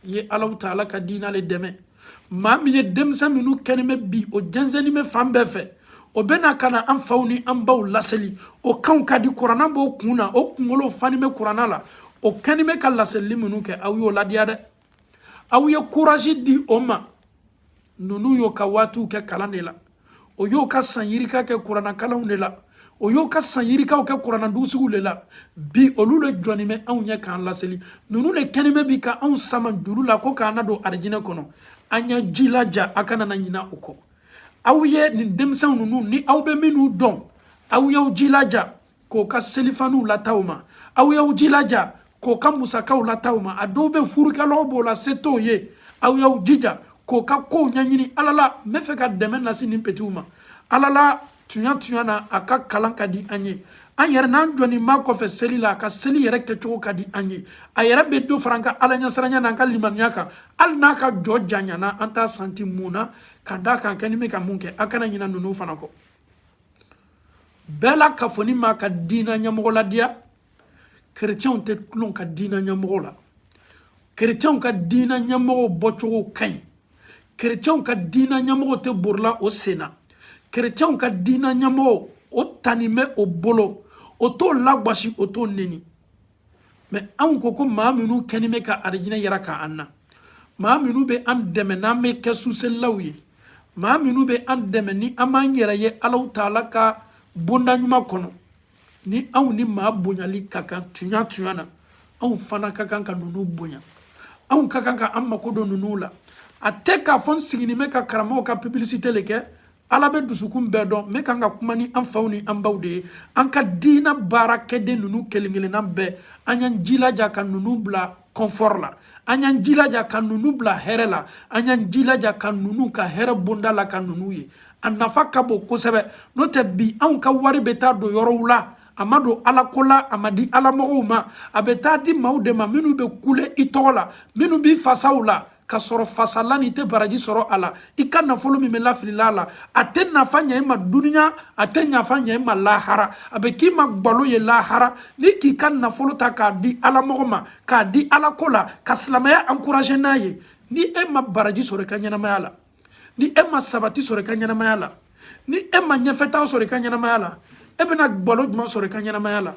i ye alahu taala ka diina le dɛmɛ maa min ye denmisɛn minnu kɛnin bɛ bi o jɛnsɛnnin bɛ fan bɛɛ fɛ o bɛna ka na an faw ni an baw laseli o kanw ka di kuranna b'o kun na o kunkolo fanin bɛ kuranna la o kɛnin bɛ ka laselili minnu kɛ aw y'o ladiya dɛ aw ye kurazi di o ma ninnu y'o ka waatiw kɛ kalan le la o y'o ka san yirika kɛ kuranakalanw le la o y'o ka san yirikaw kɛ kurana dugusigiw le la bi olu le jɔnin bɛ anw ɲɛ k'an laseli ninnu le kɛnin bɛ bi ka anw sama juru la ko k'an na don arijinɛ kɔnɔ an y'a jilaja a kana na ɲina o kɔ aw ye nin denmisɛnw ninnu ni aw bɛ minnu dɔn aw y'aw jilaja k'o ka selifaniw lataa o ma aw y'aw jilaja k'o ka musakaw lataa o ma a dɔw bɛ furukɛlaw b'o la se t'o ye aw y'aw jija k'o ka kow ɲɛɲini ala la n bɛ fɛ ka dɛmɛ lase nin petiw ma ala la tuɲa tuɲa na a ka kalan ka di an ye an yɛrɛ n'an jɔnin b'a kɔfɛ seli la a ka seli yɛrɛ kɛcogo ka di an ye a yɛrɛ bɛ dɔ fara an ka ala ɲɛsiranya n'an ka limaniya kan hali n'a ka jɔ janyana an t'a santi mun na ka d'a kan kɛnin bɛ ka mun kɛ a kana ɲina ninnu fana kɔ bɛɛ lakafonin b'a ka diina ɲɛmɔgɔ ladiya kerecɛnw tɛ tulon ka diina ɲɛmɔgɔ la kerecɛnw ka diina ɲɛmɔgɔw bɔcogo ka ɲi kerecɛnw ka diina ɲɛmɔgɔw tɛ borila o sen na kerecɛnw ka diina ɲɛmɔgɔw o tanin bɛ o bolo o t'o lagwasi o t'o neni mɛ anw ko ko maa minnu kɛnin bɛ ka arijinɛ yira ka an na maa minnu bɛ an dɛmɛ n'an bɛ kɛ suselilaw ye maa minnu bɛ an dɛmɛ ni an b'an yɛrɛ ye alahu taala ka bonda ɲuman kɔnɔ ni anw ni maa bonyali ka kan tuɲa tuɲa na anw fana ka kan ka ninnu bonya anw ka kan ka an mako don ninnu la a tɛ k'a fɔ n siginin bɛ ka karamɔgɔw ka pubilisite le kɛ ala bɛ dusukun bɛɛ dɔn ne kan ka kuma ni an faw ni an baw de ye an ka diina baarakɛden ninnu kelen kelenna bɛɛ an y'an jilaja ka ninnu bila kɔnfɔri la an y'an jilaja ka ninnu bila hɛrɛ la an y'an jilaja ka ninnu ka hɛrɛ bonda laka ninnu ye a nafa ka bon kosɛbɛ n'o tɛ bi anw ka wari bɛ taa don yɔrɔw la a ma don ala ko la a ma di ala mɔgɔw ma a bɛ taa di maaw de ma minnu bɛ kule i tɔgɔ la minnu b'i fasaw la ka sɔrɔ fasala ni i tɛ baraji sɔrɔ a la i ka nafolo min bɛ lafilila a la a tɛ nafa ɲɛ i ma duniya a tɛ nafa ɲɛ i ma lahara a bɛ k'i ma gbalo ye lahara n'i k'i ka nafolo ta k'a di ala mɔgɔ ma k'a di ala ko la ka silamɛya encourager n'a ye ni e ma baraji sɔrɔ i ka ɲɛnamaya la ni e ma sabati sɔrɔ i ka ɲɛnamaya la ni e ma ɲɛfɛtaa sɔrɔ i ka ɲɛnamaya la e bɛna gbalo jumɛn sɔrɔ i ka ɲɛnamaya la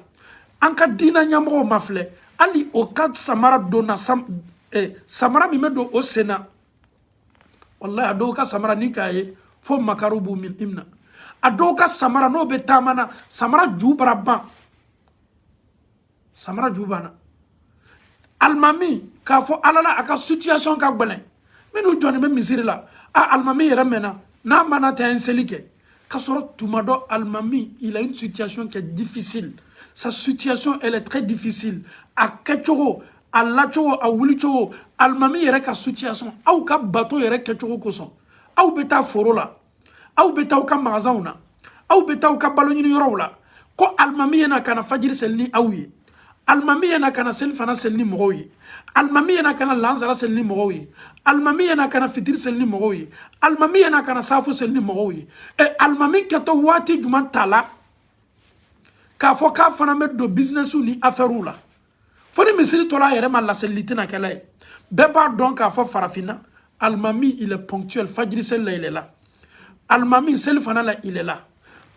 an ka diina ɲɛmɔgɔw ma filɛ hali o ka samara donna sam eh, samara min bɛ don o sen na walayi a dɔw ka samara n'i k'a ye fo makari b'i mina a dɔw ka samara n'o bɛ taama na samara ju bara ban samara ju banna alimami k'a fɔ ala la a ka situation ka gbɛlɛn minnu jɔnin bɛ misiri la a alimami yɛrɛ mɛnna n'a ma na tɛ an seli kɛ ka sɔrɔ tuma dɔ alimami il a une situation qui est difficile sa situation elle est très difficile a kɛcogo a lacogo a wulicogo alimami yɛrɛ ka situation aw ka bato yɛrɛ kɛcogo kosɔn aw bɛ taa foro la aw bɛ taa aw ka magasanw na aw bɛ taa aw ka balo ɲini yɔrɔw la ko alimami ye na ka na fajiri seli ni aw ye alimami ye na ka na selifana seli ni mɔgɔw ye alimami ye na ka na lansara seli ni mɔgɔw ye alimami ye na ka na fitiri seli ni mɔgɔw ye alimami ye na ka na saafo seli ni mɔgɔw ye ɛ alimami kɛtɔ waati jumɛn ta la k'a fɔ k'a fana bɛ don bizinɛsiw ni afɛriw la fo ni misiri tora a yɛrɛ ma laselili tɛna kɛla yen bɛɛ b'a dɔn k'a fɔ farafinna alimami il est ponctuel fajiri seli la il est là alimami selifana la il est là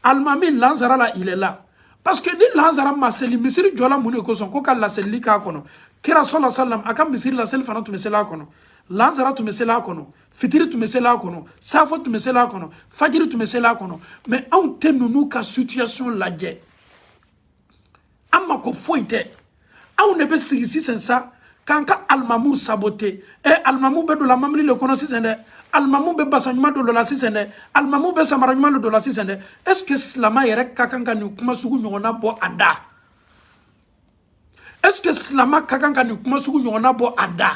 alimami lansara la il est là parce que ni lansara ma seli misiri jɔla mun de kosɔn ko ka laselili k'a kɔnɔ kira sɔla salam a ka misiri la selifana tun bɛ seli a kɔnɔ lansara tun bɛ seli a kɔnɔ fitiri tun bɛ seli a kɔnɔ safo tun bɛ seli a kɔnɔ fajiri tun bɛ seli a kɔnɔ mais anw tɛ ninnu ka situation lajɛ an mako foyi tɛ anw de bɛ sigi sisan sa k'an ka alimamuw saboter ɛ alimamu bɛ don la mɔbili le kɔnɔ sisan dɛ alimamu bɛ basan ɲuman de don la sisan dɛ alimamu bɛ samara ɲuman le don la sisan dɛ est ce que silama yɛrɛ ka kan ka nin kuma sugu ɲɔgɔnna bɔ a da est ce que silama ka kan ka nin kuma sugu ɲɔgɔnna bɔ a da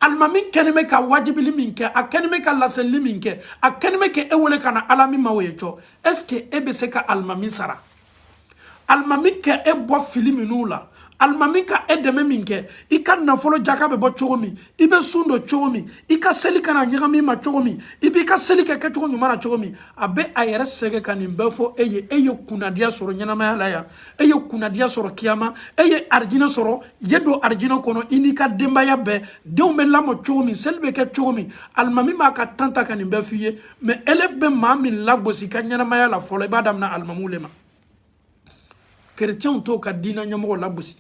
alimami kɛni bɛ ka wajibili min kɛ a kɛni bɛ ka laselili min kɛ a kɛni bɛ ka e wele ka na ala min ma o ye cɔ est ce que e bɛ se ka alimami sara alimami ka e bɔ fili minnu la alimami ka e dɛmɛ min kɛ i ka nafolo jaka bɛ bɔ cogo min i bɛ sun don cogo min i ka seli kana ɲagami i ma cogo min i b'i ka seli kɛ kɛcogo ɲuman na cogo min a bɛ a yɛrɛ sɛgɛn ka nin bɛɛ fɔ e ye e ye kunnadiya sɔrɔ ɲɛnamaya la yan e ye kunnadiya sɔrɔ kiyama e ye arijinɛ sɔrɔ ye don arijinɛ kɔnɔ i n'i ka denbaya bɛɛ denw bɛ lamɔ cogo min seli bɛ kɛ cogo min alimami b'a ka temps ta ka nin bɛɛ f'i ye mɛ ele bɛ maa min lagosi i ka ɲɛnamaya la fɔlɔ i b'a damina alimamiw le ma kerecɛnw t'o ka diinɛ ɲɛmɔgɔ lagosi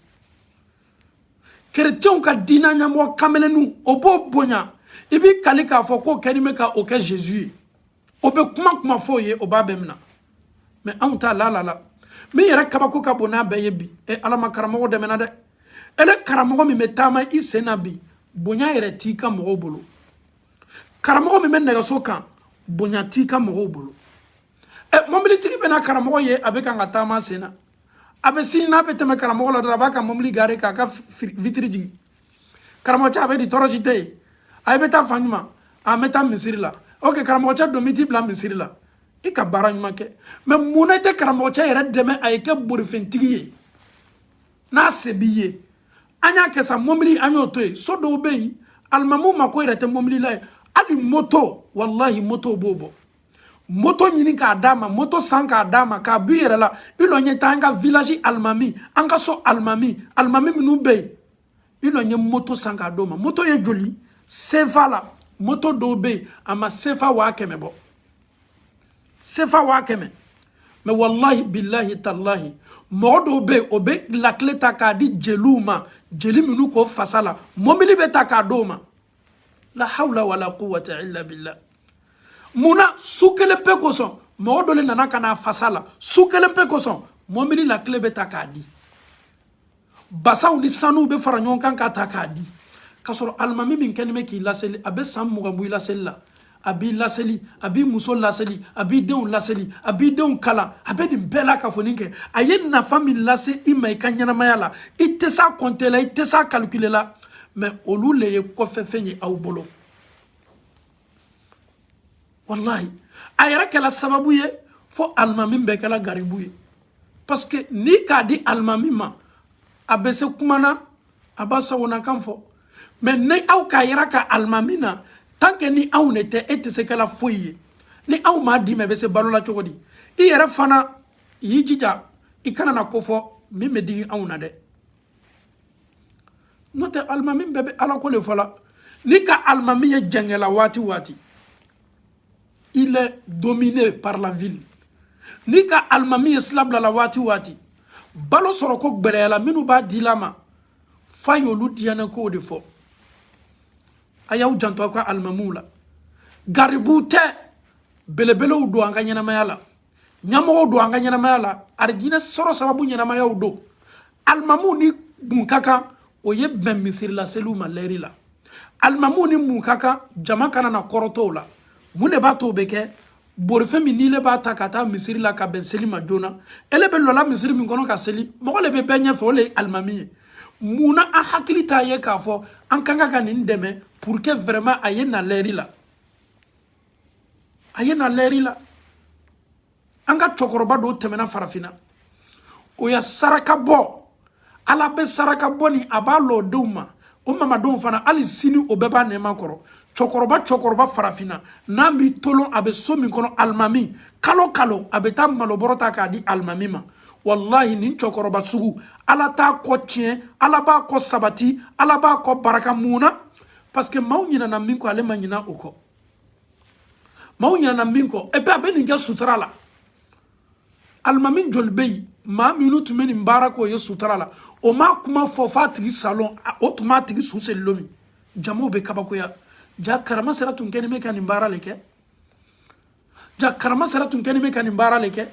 kerecɛnw ka diinɛ ɲɛmɔgɔ quand même o b'o bonya i b'i kali k'a fɔ k'o kɛni bɛ ka o kɛ jésus ye o bɛ kuma kuma fɔ o ye o b'a bɛɛ minɛ mɛ anw ta la la la min yɛrɛ kabako ka bon n'a bɛɛ ye bi e ala ma karamɔgɔ dɛmɛna dɛ ele karamɔgɔ min bɛ taama i sen na bi bonya yɛrɛ t'i kan mɔgɔw bolo karamɔgɔ min bɛ nɛgɛso kan bonya t'i kan mɔgɔw bolo ɛ mɔbilitigi bɛna karamɔgɔ ye a bɛ kan ka taama sen na a bɛ sin n'a bɛ tɛmɛ karamɔgɔ la dɔrɔn a b'a ka mɔbili gare k'a ka vitiri jigin karamɔgɔcɛ a bɛ di tɔɔrɔ si tɛ yen a i bɛ taa fan jumɛn an bɛ taa misiri la ok karamɔgɔcɛ don n bɛ t'i bila misiri la i ka baara ɲuman kɛ mɛ mun na i tɛ karamɔgɔcɛ yɛrɛ dɛmɛ a ye kɛ borifɛntigi ye n'a se b'i ye an y'a kɛ sa mɔbili an y'o to yen so dɔw bɛ yen alimami mako yɛrɛ tɛ mɔbili la ye hali moto walahi moto b'o bɔ moto ɲini k'a d'a ma moto san k'a d'a ma k'a b'i yɛrɛ la i lɔ i ye taa an ka village alimami an ka so alimami alimami minnu bɛ yen i lɔ i ye moto san k'a d'o ma moto ye joli sefa la moto dɔw bɛ yen a ma sefa waa kɛmɛ bɔ sefa waa kɛmɛ mɛ walahi bilahi talahi mɔgɔ dɔw bɛ yen o bɛ lakile ta k'a di jeliw ma jeli minnu k'o fasa la mɔbili bɛ ta k'a d'o ma la hawla wala quwwata illa billah mun na su kelen pe kosɔn mɔgɔ dɔ le nana ka n'a fasa la su kelen pe kosɔn mɔmili lakile bɛ ta k'a di bazɛnw ni sanuw bɛ fara ɲɔgɔn kan k'a ta k'a di k'a sɔrɔ alimami min kɛni bɛ k'i laseli a bɛ san mugan bɔ i laseli la a b'i laseli a b'i muso laseli a b'i denw laseli a b'i denw kalan a bɛ nin bɛɛ lakafonin kɛ a ye nafa min lase i ma i ka ɲɛnamaya la i tɛ s'a kɔnte la i tɛ s'a kalikile la mɛ olu le ye kɔfɛfɛn ye aw bolo walayi a yɛrɛ kɛla sababu ye fo alimami bɛɛ kɛla garibu ye parce que n'i k'a di alimami ma a bɛ se kuma na a b'a sagonakan fɔ mais ni aw k'a yira ka alimami na tant que ni anw de tɛ e tɛ se kɛla foyi ye ni anw m'a d'i ma i bɛ se balo la cogo di i yɛrɛ fana y'i jija i kana na ko fɔ min bɛ digi anw na dɛ n'o tɛ alimami bɛɛ bɛ ala ko de fɔ la n'i ka alimami ye jɛngɛla waati waati il est dominé par la ville n'i ka alimami ye sila bilala waati waati balo sɔrɔ ko gbɛlɛyala minnu b'a dila a ma f'a y'olu diyannen kow de fɔ a y'aw janto aw ka alimamiw la garibuw tɛ belebelew don an ka ɲɛnamaya la ɲamɔgɔw don an ka ɲɛnamaya la arijinɛ sɔrɔ sababu ɲɛnamayaw don alimamiw ni mun ka kan o ye bɛn misiri la seliw ma lɛri la alimamiw ni mun ka kan jama kana na kɔrɔtɔ u la mun de b'a to o bɛ kɛ borifɛn min n'i le b'a ta ka taa misiri la ka bɛn seli ma joona ele bɛ lɔla misiri min kɔnɔ ka seli mɔgɔ le bɛ bɛɛ ɲɛfɛ o le ye alimami ye mun na an hakili t'a ye k'a fɔ an ka kan ka nin dɛmɛ pour que vraiment a ye na lɛri la a ye na lɛri la an ka cɛkɔrɔba dɔw tɛmɛna farafinna o ye saraka bɔ ala bɛ saraka bɔ ni a wolodenw ma o mamadenw fana hali sini o bɛɛ b'a nɛɛma kɔrɔ cɛkɔrɔba cɛkɔrɔba farafinna n'an b'i tolon a bɛ so min kɔnɔ alimami kalo kalo a bɛ taa malobɔrɔ ta k'a di alimami ma walahi nin cɛkɔrɔba sugu ala t'a kɔ tiɲɛ ala b'a kɔ sabati ala b'a kɔ baraka mun na parce que maaw ɲinana min kɔ ale ma ɲina o kɔ maaw ɲinana min kɔ epi a bɛ nin kɛ sutura la alimami joli bɛ yen maa minnu tun bɛ nin baara k'o ye sutura la o m'a kuma fɔ f'a tigi sa lon o tun b'a tigi su seli lon min jamaw bɛ kabakoya jaa karama sera tun kɛlen bɛ ka nin baara le kɛ jaa karama sera tun kɛlen bɛ ka nin baara le kɛ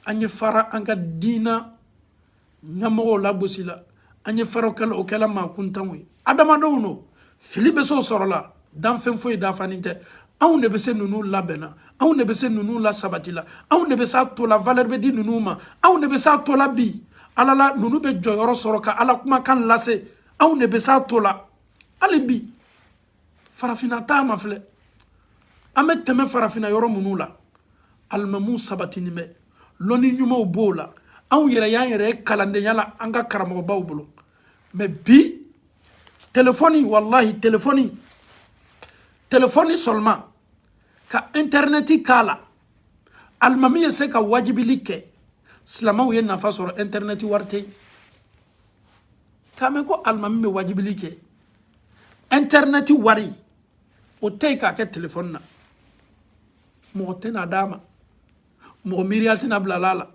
an ye fara an ka diina ɲɛmɔgɔw lagosi la an ye fara o kɛla o kɛla maakuntanw ye adamadenw don fili bɛ se o sɔrɔ la danfɛn foyi dafanin tɛ anw de bɛ se ninnu labɛnna anw de bɛ se ninnu lasabati la anw de bɛ se a to la valeur bɛ di ninnu ma anw de bɛ se a to la bi ala la ninnu bɛ jɔyɔrɔ sɔrɔ ka ala kumakan lase anw de bɛ se a to la hali bi farafinna taama filɛ an bɛ tɛmɛ farafinna yɔrɔ minnu la alimamiw sabatinin bɛ lɔnni ɲumanw b'o la anw yɛrɛ y'an yɛrɛ ye kalandenya la an ka karamɔgɔbaw bolo mais bi telefɔni walahi telefɔni telefɔni seulement ka intɛrɛnɛti k'a la alimami ye se ka wajibili kɛ silamɛw ye nafa sɔrɔ intɛrɛnɛti wari tɛ yen k'a mɛn ko alimami bɛ wajibili kɛ ɛntɛrinɛti wari o tɛ yen k'a kɛ telefɔni na mɔgɔ tɛna d'a ma mɔgɔ miiriya tɛna bila a la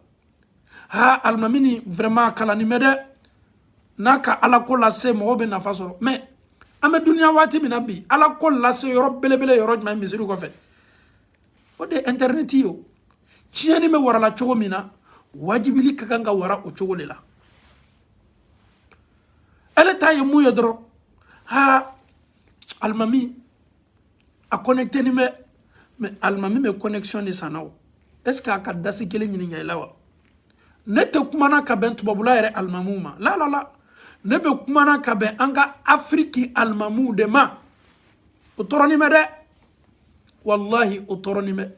ha alimami nin vraiment kalannin bɛ dɛ n'a ka ala ko lase mɔgɔw bɛ nafa sɔrɔ mais an bɛ duniya waati min na bi ala ko lase yɔrɔ belebele yɔrɔ jumɛn misiri kɔfɛ o de ye ɛntɛrinɛti ye o tiɲɛni bɛ warala cogo min na wajibili ka kan ka wara o cogo le la ale ta ye mun ye dɔrɔn ha alimami a connecténin bɛ mais alimami bɛ connexion de san na o est ce que a ka dasi kelen ɲininka i la wa ne tɛ kumana ka bɛn tubabula yɛrɛ alimamiw ma la la la ne bɛ kumana ka bɛn an ka afiriki alimamiw de ma o tɔɔrɔnin bɛ dɛ walahi o tɔɔrɔnin bɛ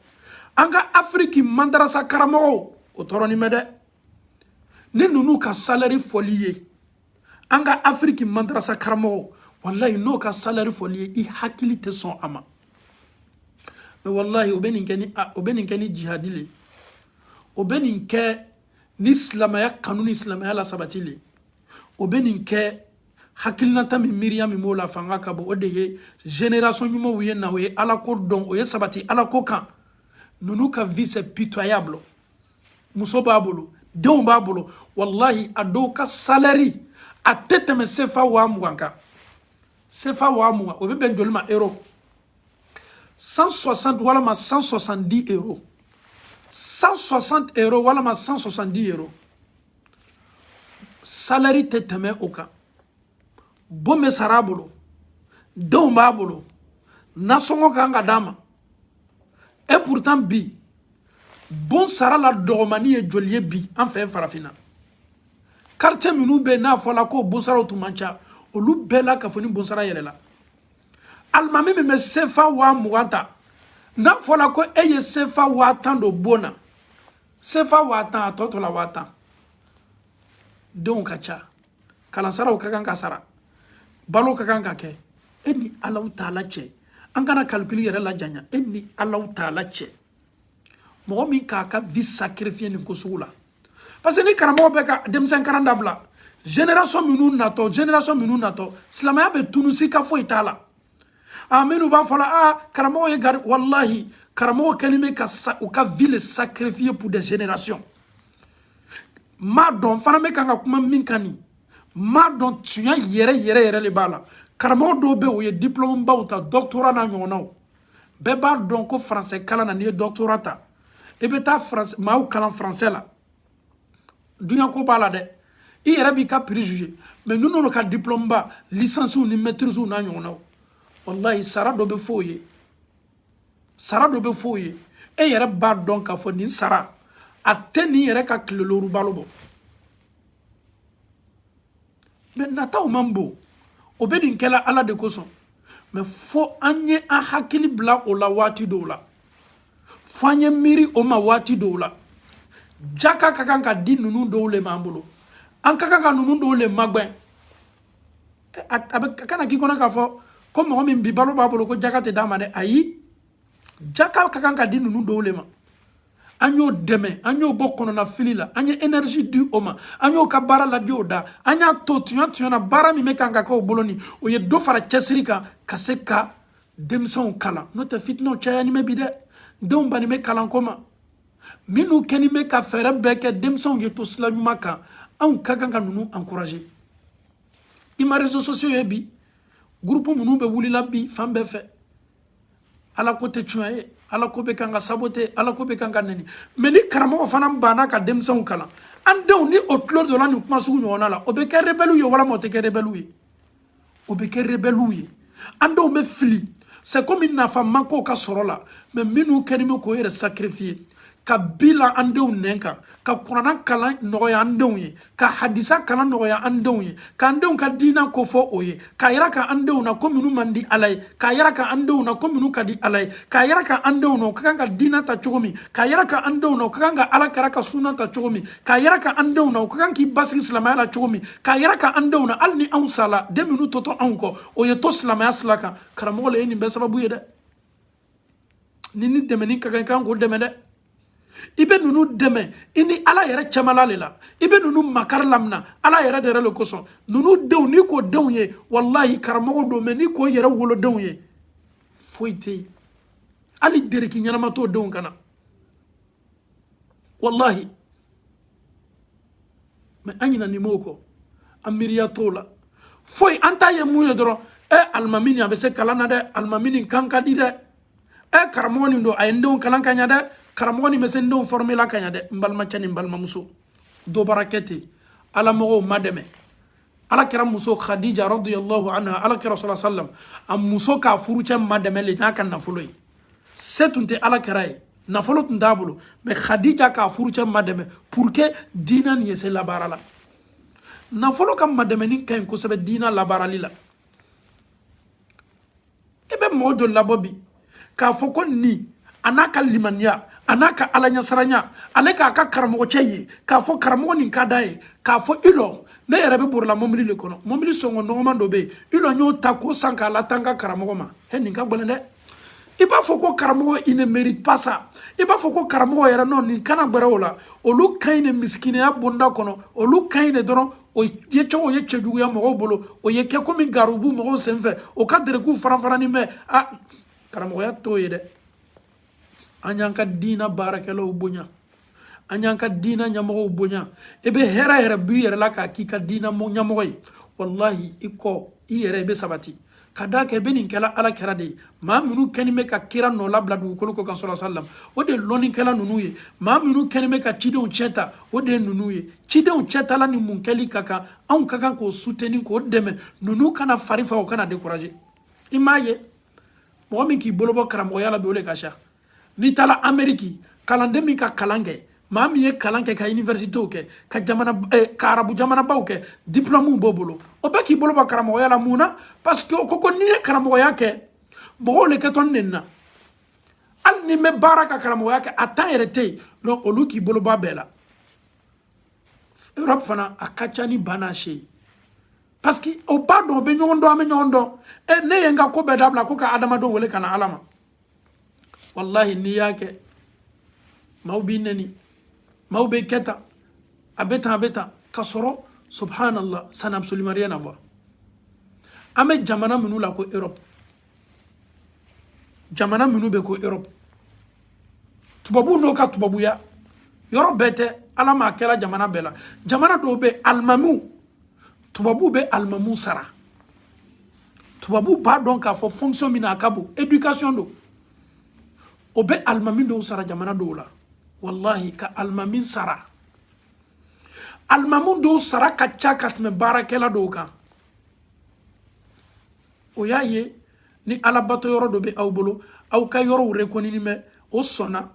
an ka afiriki mandarasa karamɔgɔw o tɔɔrɔnin bɛ dɛ ni ninnu ka salari fɔl'i ye an ka afiriki mandarasa karamɔgɔ walayi n'o ka salari fɔl'i ye i hakili tɛ sɔn a ma mais walayi o bɛ nin kɛ ni o bɛ nin kɛ ni jihadi le o bɛ nin kɛ ni silamɛya kanu ni silamɛya lasabati le o bɛ nin kɛ hakilinata min miiriya min b'o la fanga ka bon o de ye génération ɲumanw ye na o ye alako dɔn o ye sabati alako kan ninnu ka vie c'est pitoyable muso b'a bolo denw b'a bolo walahi a dɔw ka salɛri a tɛ tɛmɛ sefa waa mugan kan sefa waa mugan o bɛ bɛn joli ma euro 160 walama 170 euro 160 euro walama 170 euro salɛri tɛ tɛmɛ o kan bon bɛ sara a bolo denw b'a bolo nasɔngɔ kan ka d'a ma et pourtant bi bonsara la dɔgɔmani ye joli ye bi an fɛ farafinna quartier minnu bɛ n'a fɔla k'o bonsaraw tun man ca olu bɛɛ lakafonin bonsara yɛlɛla alimami min bɛ sefa waa mugan ta n'a fɔla ko e ye sefa waa tan don bon na sefa waa tan a tɔ tora waa tan denw ka ca kalansaraw ka kan ka sara balo ka kan ka kɛ e ni alahu taala cɛ an kana kalikili yɛrɛ lajanya e ni alahu taala cɛ mɔgɔ min k'a ka vie sacrifier nin ko sugu la parce que ni karamɔgɔw bɛɛ ka denmisɛn karan dabila génération minnu natɔ génération minnu natɔ silamɛya bɛ tunun sika foyi t'a la a minnu b'a fɔ la a karamɔgɔ ye gari walahi karamɔgɔ kɛlen bɛ ka u ka vie le sacrifier pour des générations n b'a dɔn fana n bɛ kan ka kuma min kan nin n b'a dɔn tiɲɛ yɛrɛ yɛrɛ yɛrɛ le b'a la karamɔgɔ dɔw bɛ u ye diplômebaw ta doctorat n'a ɲɔgɔnnaw bɛɛ b'a dɔn ko français kalan na n'i ye doctorat ta i bɛ taa maaw kalan français la dunya ko b'a la dɛ i yɛrɛ b'i ka prix juger mais ninnu n'olu ka diplôme ba licence ni maîtrise n'a ɲɔgɔnnaw wallahi sara dɔ bɛ f'o ye sara dɔ bɛ f'o ye e yɛrɛ b'a dɔn k'a fɔ nin sara a tɛ nin yɛrɛ ka tile looru balo bɔ mɛ nataw man bon o bɛ nin kɛla ala de kosɔn mɛ fo an ye an hakili bila o la waati dɔw la fo an ye miiri o ma waati dɔw la jaka ka kan ka di ninnu dɔw le m'an bolo an ka kan ka ninnu dɔw le magwɛn a bɛ kana k'i kɔnɔ k'a fɔ ko mɔgɔ min bi balo b'a bolo ko jaka tɛ d'a ma dɛ ayi jaka ka kan ka di ninnu dɔw le ma an y'o dɛmɛ an y'o bɔ kɔnɔnafili la an ye energie di o ma an y'o ka baara ladi o da an y'a to tuɲa tuɲana baara min bɛ kan ka kɛ o bolo ni o ye dɔ fara cɛsiri kan ka se ka denmisɛnw kalan n'o tɛ fitinaw cayani bɛ bi dɛ denw banni bɛ kalanko ma minnu kɛni bɛ ka fɛɛrɛ bɛɛ kɛ denmisɛnw ye to sila ɲuman kan anw ka kan ka ninnu encourager i ma réseaux sociaux ye bi groupe minnu bɛ wulila bi fan bɛɛ fɛ ala ko tɛ tuɲa ye ala ko bɛ kan ka saboter ala ko bɛ kan ka nɛni mɛ ni karamɔgɔ fana banna ka denmisɛnw kalan an denw ni o tulo donna nin kuma sugu ɲɔgɔnna la o bɛ kɛ rebɛliw ye walama o tɛ kɛ rebɛliw ye o bɛ kɛ rebɛliw ye an denw bɛ fili c'est comme nafa ma k'o ka sɔrɔ la mɛ minnu kɛni bɛ k'o yɛrɛ sacrifier ka bila an denw ɲɛ ka ka kurana kalan nɔgɔya an denw ye ka hadisa kalan nɔgɔya an denw ye k'an denw ka diina kofɔ o ye k'a yiraka an denw na ko minnu man di ala ye k'a yiraka an denw na ko minnu ka di ala ye k'a yiraka an denw na u ka kan ka diina ta cogo min k'a yiraka an denw na u ka kan ka ala kira ka suna ta cogo min k'a yiraka an denw na u ka kan k'i basigi silamɛya la cogo min k'a yiraka an denw na hali ni anw sala den minnu totɔ anw kɔ o ye to silamɛya sila kan karamɔgɔ le ye nin bɛɛ sababu ye dɛ ninnu dɛmɛni ka kan i ka kan k'o dɛmɛ dɛ i bɛ ninnu dɛmɛ i ni ala yɛrɛ cɛmala le la i bɛ ninnu makari lamina ala yɛrɛ de yɛrɛ le kosɔn ninnu denw n'i k'o denw ye wallahi karamɔgɔw don mɛ n'i k'o yɛrɛ wolodenw ye foyi tɛ yen hali dereki ɲɛnama t'o denw kan na wallahi mɛ an ɲinani m'o kɔ an miiriya t'o la foyi an ta ye mun ye dɔrɔn ɛ alimami nin a bɛ se kalan na dɛ alimami nin kan ka di dɛ ɛ karamɔgɔ nin don a ye n denw kalan ka ɲa dɛ karamɔgɔ nin bɛ se n denw fɔrɔmela ka ɲa dɛ n balimacɛ ni n balimamuso dɔ baara kɛ ten ala mɔgɔw madɛmɛ ala kira muso khadija radiyallahu anha ala kira sala sallam a muso k'a furucɛ madɛmɛ le n'a ka nafolo ye se tun tɛ ala kira ye nafolo tun t'a bolo mɛ khadija k'a furucɛ madɛmɛ pour que diina nin ye se labaara la nafolo ka madɛmɛni ka ɲi kosɛbɛ diina labaarali la i bɛ mɔgɔ joli labɔ bi k'a fɔ ko nin a n'a ka limaniya a n'a ka alaɲasiranya ale k'a ka karamɔgɔcɛ ye k'a fɔ karamɔgɔ nin ka d'a ye k'a fɔ i lɔ ne yɛrɛ bɛ borila mɔbili le kɔnɔ mɔbili sɔngɔ nɔgɔman dɔ bɛ yen i lɔ n y'o ta k'o san k'a lataa n ka karamɔgɔ ma he nin ka gɛlɛn dɛ i b'a fɔ ko karamɔgɔ il ne mérite pas ça i b'a fɔ ko karamɔgɔ yɛrɛ ninnu kana gbɛrɛ o la olu ka ɲi le misikineya bonda kɔnɔ olu ka ɲi le dɔrɔn o yecogo ye cɛjuguya mɔgɔw bolo o ye kɛ komi garibu mɔgɔw senfɛ o ka derekew faranfarani mɛ a karamɔgɔya t'o ye dɛ an y'an ka diina baarakɛlaw bonya an y'an ka diina ɲɛmɔgɔw bonya i bɛ hɛrɛ yɛrɛ b'i yɛrɛ la k'a k'i ka diina ɲɛmɔgɔ ye walahi i kɔ i yɛrɛ i bɛ sabati ka d'a kan i bɛ nin kɛla ala kira de ye maa minnu kɛni bɛ ka kira nɔ labila dugukolo kɔ ka sɔrɔ salam o de ye lɔnnikɛla ninnu ye maa minnu kɛni bɛ ka cidenw cɛ ta o de ye ninnu ye cidenw cɛtala ni mun kɛli ka kan anw ka kan k'o suteni k'o dɛmɛ ninnu kana fari fa o kana dekuraje i m'a ye mɔgɔ min k'i bolobɔ karamɔgɔya la bi o de ka ca n'i taara ameriki kalanden min ka kalan kɛ maa min ye kalan kɛ ka universitew kɛ ka jamana eh, ka arabu jamanabaw kɛ diplɔmuw b'o bolo o bɛɛ k'i bolo bɔ karamɔgɔya la mun na parce que o ko ko n'i ye karamɔgɔya kɛ mɔgɔw le kɛtɔ ne na hali n'i bɛ baara ka karamɔgɔya kɛ a tan yɛrɛ tɛ yen donc olu k'i bolo bɔ a bɛɛ la europe fana a ka ca ni ba n'a se ye parce que o b'a dɔn o bɛ ɲɔgɔn dɔn an bɛ ɲɔgɔn dɔn e ne ye n ka ko bɛɛ dabila ko ka adamadenw wele ka na ala ma wallahi n'i y'a kɛ maaw b'i nɛni maaw bɛ kɛ tan a bɛ tan a bɛ tan ka sɔrɔ subhanallah ça n'a absolument rien à voir an bɛ jamana minnu la ko europe jamana minnu bɛ ko europe tubabu n'o ka tubabuya yɔrɔ bɛɛ tɛ ala m'a kɛra jamana bɛɛ la jamana dɔw bɛ alimamiw tubabu bɛ alimamiw sara tubabu b'a dɔn k'a fɔ fonction min na a ka bon éducation don o bɛ alimami dɔw sara jamana dɔw la walahi ka alimami sara alimami dɔw sara ka ca ka tɛmɛ baarakɛla dɔw kan o y'a ye ni alabato yɔrɔ dɔ bɛ aw bolo aw ka yɔrɔw rekonini bɛ o sɔnna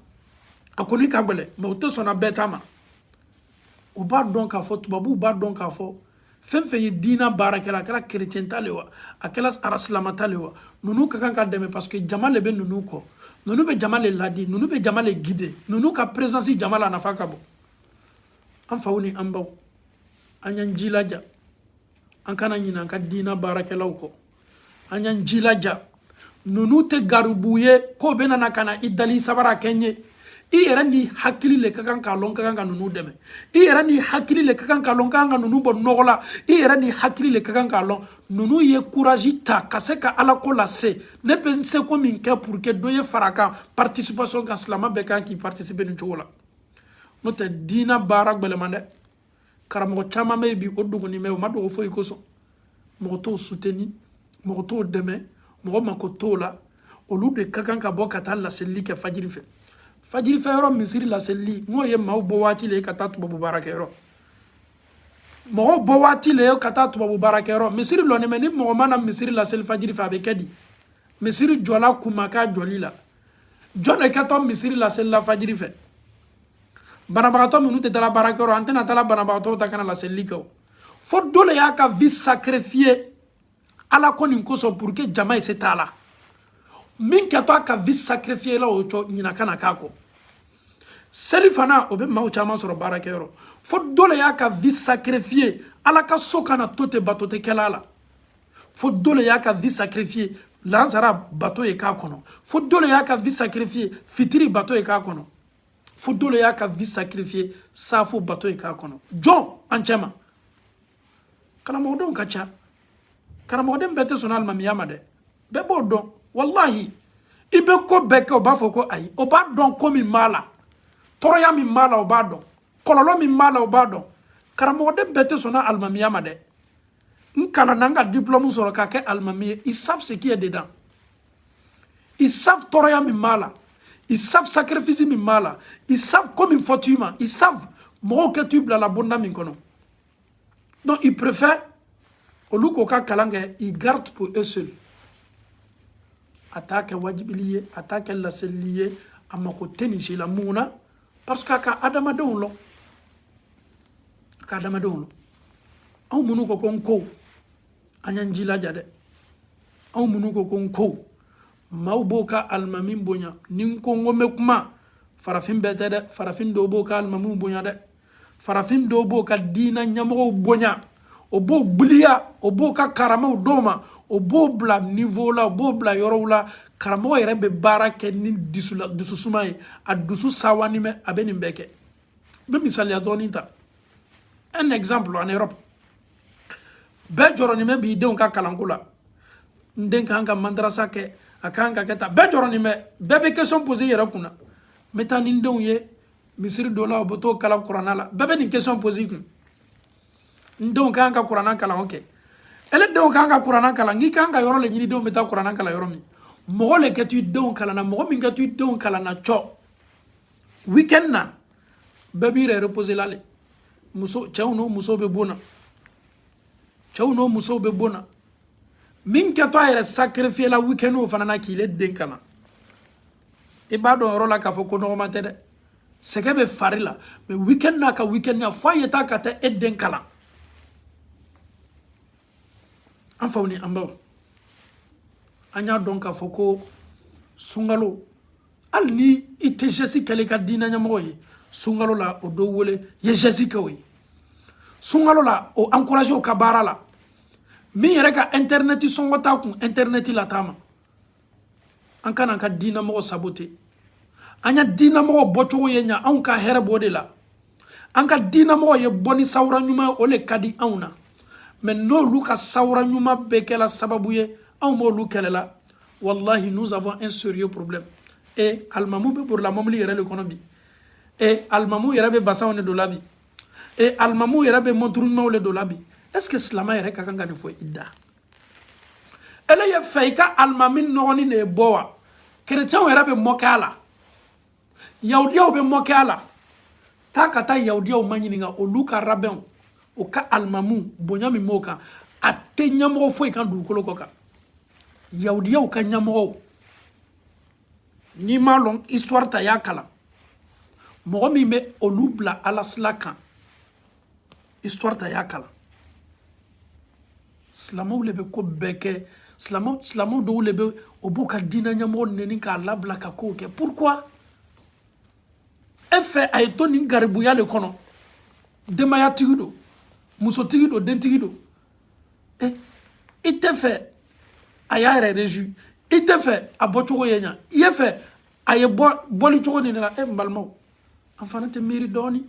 a kɔni ka gɛlɛn mɛ o tɛ sɔnna bɛɛ ta ma u b'a dɔn k'a fɔ tubabuw b'a dɔn k'a fɔ fɛn fɛn ye diina baarakɛla a kɛra kerecɛn ta le wa a kɛra arasilama ta le wa ninnu ka kan ka dɛmɛ parce que jama le bɛ ninnu kɔ ninnu bɛ jama le ladi ninnu bɛ jama le guider ninnu ka présence jama la nafa ka bon an faw ni an baw an y'an jilaja an kana ɲinɛ an ka diina baarakɛlaw kɔ an y'an jilaja ninnu tɛ garibuw ye k'o bɛna na ka na i dali sabara kɛ n ye i yɛrɛ n'i hakili le ka kan k'a lɔn ka kan ka ninnu dɛmɛ i yɛrɛ n'i hakili le ka kan k'a lɔn ka kan ka ninnu bɔ nɔgɔ la i yɛrɛ n'i hakili le ka kan k'a lɔn ninnu ye kurazi ta ka se ka ala ko lase ne bɛ n seko min kɛ pour que dɔ ye fara n ka participation kan silama bɛɛ kan ka participer nin cogo la n'o tɛ diina baara gbɛlɛman dɛ karamɔgɔ caman bɛ yen bi o dogonin bɛ o ma dogo foyi kosɔn mɔgɔ t'o soutenir mɔgɔ t'o dɛmɛ mɔgɔ mako t'o la olu de ka kan ka bɔ ka taa laselili kɛ fajiri fɛ fajiri fɛ yɔrɔ misiri laselili n'o ye maaw bɔ waati le ye ka taa tubabu baarakɛyɔrɔ mɔgɔw bɔ waati le ye ka taa tubabu baarakɛyɔrɔ misiri lɔnin bɛ ni mɔgɔ ma na misiri laseli fajiri fɛ a bɛ kɛ di misiri jɔla kunma k'a jɔli la jɔn de kɛtɔ misiri laselila fajiri fɛ banabagatɔ minnu tɛ taara baarakɛyɔrɔ an tɛna taara banabagatɔw ta ka na laselili kɛ o fo dɔ de y'a ka vie sacrifier ala ko nin kosɔn pour que jama ye se t'a la min kɛtɔ a ka vie sacrifier la o cɔ ɲina kana k'a kɔ selifana o bɛ maaw caman sɔrɔ baarakɛyɔrɔ fo dɔ de y'a ka vie sacrifier ala ka so kana to ten bato tɛ kɛla la fo dɔ le y'a ka vie sacrifier lansara bato ye k'a kɔnɔ fo dɔ le y'a ka vie sacrifier fitiri bato ye k'a kɔnɔ fo dɔ le y'a ka vie sacrifier saafo bato ye k'a kɔnɔ jɔn an cɛma karamɔgɔdenw ka ca karamɔgɔden bɛɛ tɛ sɔn alimamiya ma dɛ bɛɛ b'o dɔn walahi i bɛ ko bɛɛ kɛ o b'a fɔ ko ayi o b'a dɔn ko min b'a la tɔɔrɔya min b'a la o b'a dɔn kɔlɔlɔ min b'a la o b'a dɔn karamɔgɔden bɛɛ tɛ sɔn alimamiya ma dɛ n kalanna n ka diplɔmu sɔrɔ ka kɛ alimami ye ils savent ce qui est dedans ils savent tɔɔrɔya min b'a la ils savent sacrifice min b'a la ils savent ko min fɔtɔ i ma ils savent mɔgɔw kɛtɔ i bilala bonda min kɔnɔ donc ils préfèrent olu k'o ka kalan kɛ ils gardent pour eux seuls a t'a kɛ wajibili ye a t'a kɛ laselili ye a mako tɛ nin si la mun na parce que a ka adamadenw lɔn a ka adamadenw lɔn aw minnu ko ko n ko an y'an jilaja dɛ aw minnu ko ko n ko maaw b'o ka alimami bonya ni n ko n ko n bɛ kuma farafin bɛɛ tɛ dɛ farafin dɔw b'o ka alimamiw bonya dɛ farafin dɔw b'o ka diina ɲɛmɔgɔw bonya o b'o gbiliya o b'o ka karamaw d'o ma o b'o bila niveau la o b'o bila yɔrɔw la karamɔgɔ yɛrɛ bɛ baara kɛ ni dususuma ye a dusu sewanin bɛ a bɛ nin bɛɛ kɛ n bɛ misaliya dɔɔni ta un exemple en Europe bɛɛ jɔrɔnin b'i denw ka kalanko la n den ka kan ka madarasa kɛ a ka kan ka kɛ tan bɛɛ jɔrɔnin bɛ bɛɛ bɛ question poser yɛrɛ kunna n bɛ taa ni n denw ye misiri donna o bɛ t'o kalan kurana la bɛɛ bɛ nin question poser ko n denw ka kan ka kurana kalan ok ale denw ka kan ka kurana kalan n'i ka kan ka yɔrɔ le ɲini denw bɛ taa kurana kalan yɔrɔ min mɔgɔ le kɛtɔ i denw kalan na mɔgɔ min kɛtɔ i denw kalan na cɔ weekend na bɛɛ b'i yɛrɛ reposer la le muso cɛw n'o musow bɛ bon na cɛw n'o musow bɛ bon na min kɛtɔ a yɛrɛ sacrifier la weekend o fana na k'i le den kalan i b'a dɔn yɔrɔ la k'a fɔ ko nɔgɔman tɛ dɛ sɛgɛn bɛ fari la mais weekend n'a ka weekend ya f'a ye taa ka taa e den kalan an faw ni an baw an y'a dɔn k'a fɔ ko sunkalo hali ni i tɛ geste kɛla i ka diina ɲɛmɔgɔ ye sunkalo la o dɔ wele i ye geste kɛ o ye sunkalo la o encourager o ka baara la min yɛrɛ ka internet sɔngɔ t'a kun internet la taama an kana an ka diinamɔgɔ sabote an ya diinamɔgɔ bɔcogo ye ɲa anw ka hɛrɛ b'o de la an ka diinamɔgɔ ye bɔ ni sawura ɲuman ye o le ka di anw na mais n'olu ka sawura ɲuman bɛɛ kɛla sababu ye anw b'olu kɛlɛla wallahi nous avons un sérieux problème e alimamu bɛ borila mɔbili yɛrɛ le kɔnɔ bi e alimamu yɛrɛ bɛ basanw de don la bi e alimamu yɛrɛ bɛ mɔnturu ɲumanw de don la bi est ce que silama yɛrɛ ka kan ka nin fɔ i da e le ye fɛ i ka alimami nɔgɔnin de ye bɔ wa kerecɛnw yɛrɛ bɛ moquer a la yahudiyaw bɛ moquer a la taa ka taa yahudiyaw maɲininka olu ka rabɛnw o ka alimamiw bonya min b'o kan a tɛ ɲɛmɔgɔ foyi kan dugukolo kɔ kan yahudiyaw ka ɲɛmɔgɔw n'i m'a lɔn histoire ta i y'a kalan mɔgɔ min bɛ olu bila ala sila kan histoire ta i y'a kalan silamaw le bɛ ko bɛɛ kɛ silama dɔw le bɛ o b'o ka diina ɲɛmɔgɔ nɛni k'a labila ka kow kɛ pourquoi e fɛ a ye to nin garibuya le kɔnɔ denbayatigi don musotigi don dentigi don e i tɛ fɛ a y'a yɛrɛ réjouir i tɛ fɛ a bɔcogo ye ɲa i ye fɛ a ye bɔ bɔli cogo nin de la e n balimaw an fana tɛ miiri dɔɔni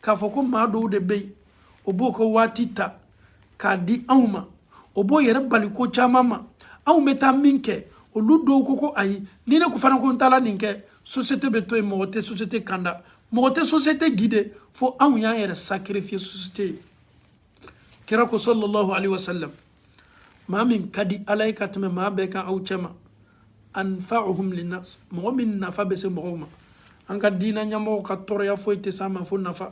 k'a fɔ ko maa dɔw de bɛ yen o b'o ka waati ta k'a di anw ma o b'o yɛrɛ bali ko caman ma anw bɛ taa min kɛ olu dɔw ko ko ayi ni ne ko fana ko n taara nin kɛ société bɛ to yen mɔgɔ tɛ société kanda mɔgɔ tɛ société guider fo anw y'an yɛrɛ sacrifier société ye kira ko sallallahu alaihi wasallam maa min ka di ala ye ka tɛmɛ maa bɛɛ kan aw cɛma anfa'uhum linnas mɔgɔ min nafa bɛ se mɔgɔw ma an ka diina ɲɛmɔgɔ ka tɔɔrɔya foyi tɛ s'an ma fo nafa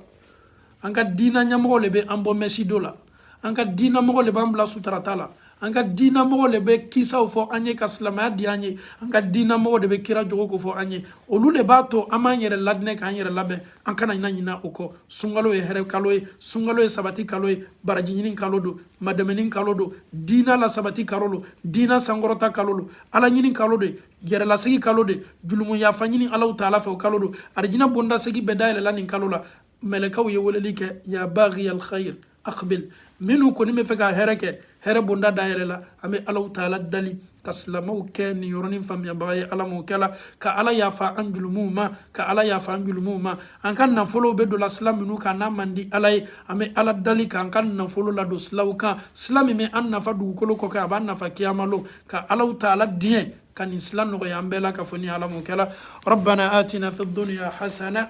an ka diina ɲɛmɔgɔ le bɛ an bɔ mɛsido la an ka diinamɔgɔ le b'an bila sutarata la an ka diinamɔgɔ de bɛ kisaw fɔ an ye ka silamɛya diya an ye an ka diinamɔgɔ de bɛ kira jogo ko fɔ an ye olu de b'a to an b'an yɛrɛ ladilan k'an yɛrɛ labɛn an kana ɲina ɲina o kɔ sunkalo ye hɛrɛ kalo ye sunkalo ye sabati kalo ye baraji ɲini kalo don maadɛmɛni kalo don diina lasabati kalo don diina sankɔrɔta kalo don ala ɲini kalo de yɛrɛlasegi kalo de julumu yafa ɲini alahu taala fɛ o kalo don arijinɛ bonda seegin bɛɛ dayɛlɛla nin kalo la mɛlɛkaw ye weleli kɛ ya baghiya alkhayr aqbil minnu kɔni bɛ fɛ ka hɛrɛ kɛ hɛrɛ bonda dayɛlɛla an bɛ alahu taala dali ka silamɛw kɛ nin yɔrɔnin faamuyabaga ye ala m'o kɛla ka ala yafa an jurumuw ma ka ala yafa an jurumuw ma an ka nafolow bɛ donla sila minnu kan n'a man di ala ye an bɛ ala dali k'an ka nafolo ladon silaw kan sila min bɛ an nafa dugukolo kɔkan a b'an nafa kiyama lon ka alahu taala diɲɛ ka nin sila nɔgɔya an bɛɛ lakafonin ala m'o kɛla rabbana atina fi dunya hasana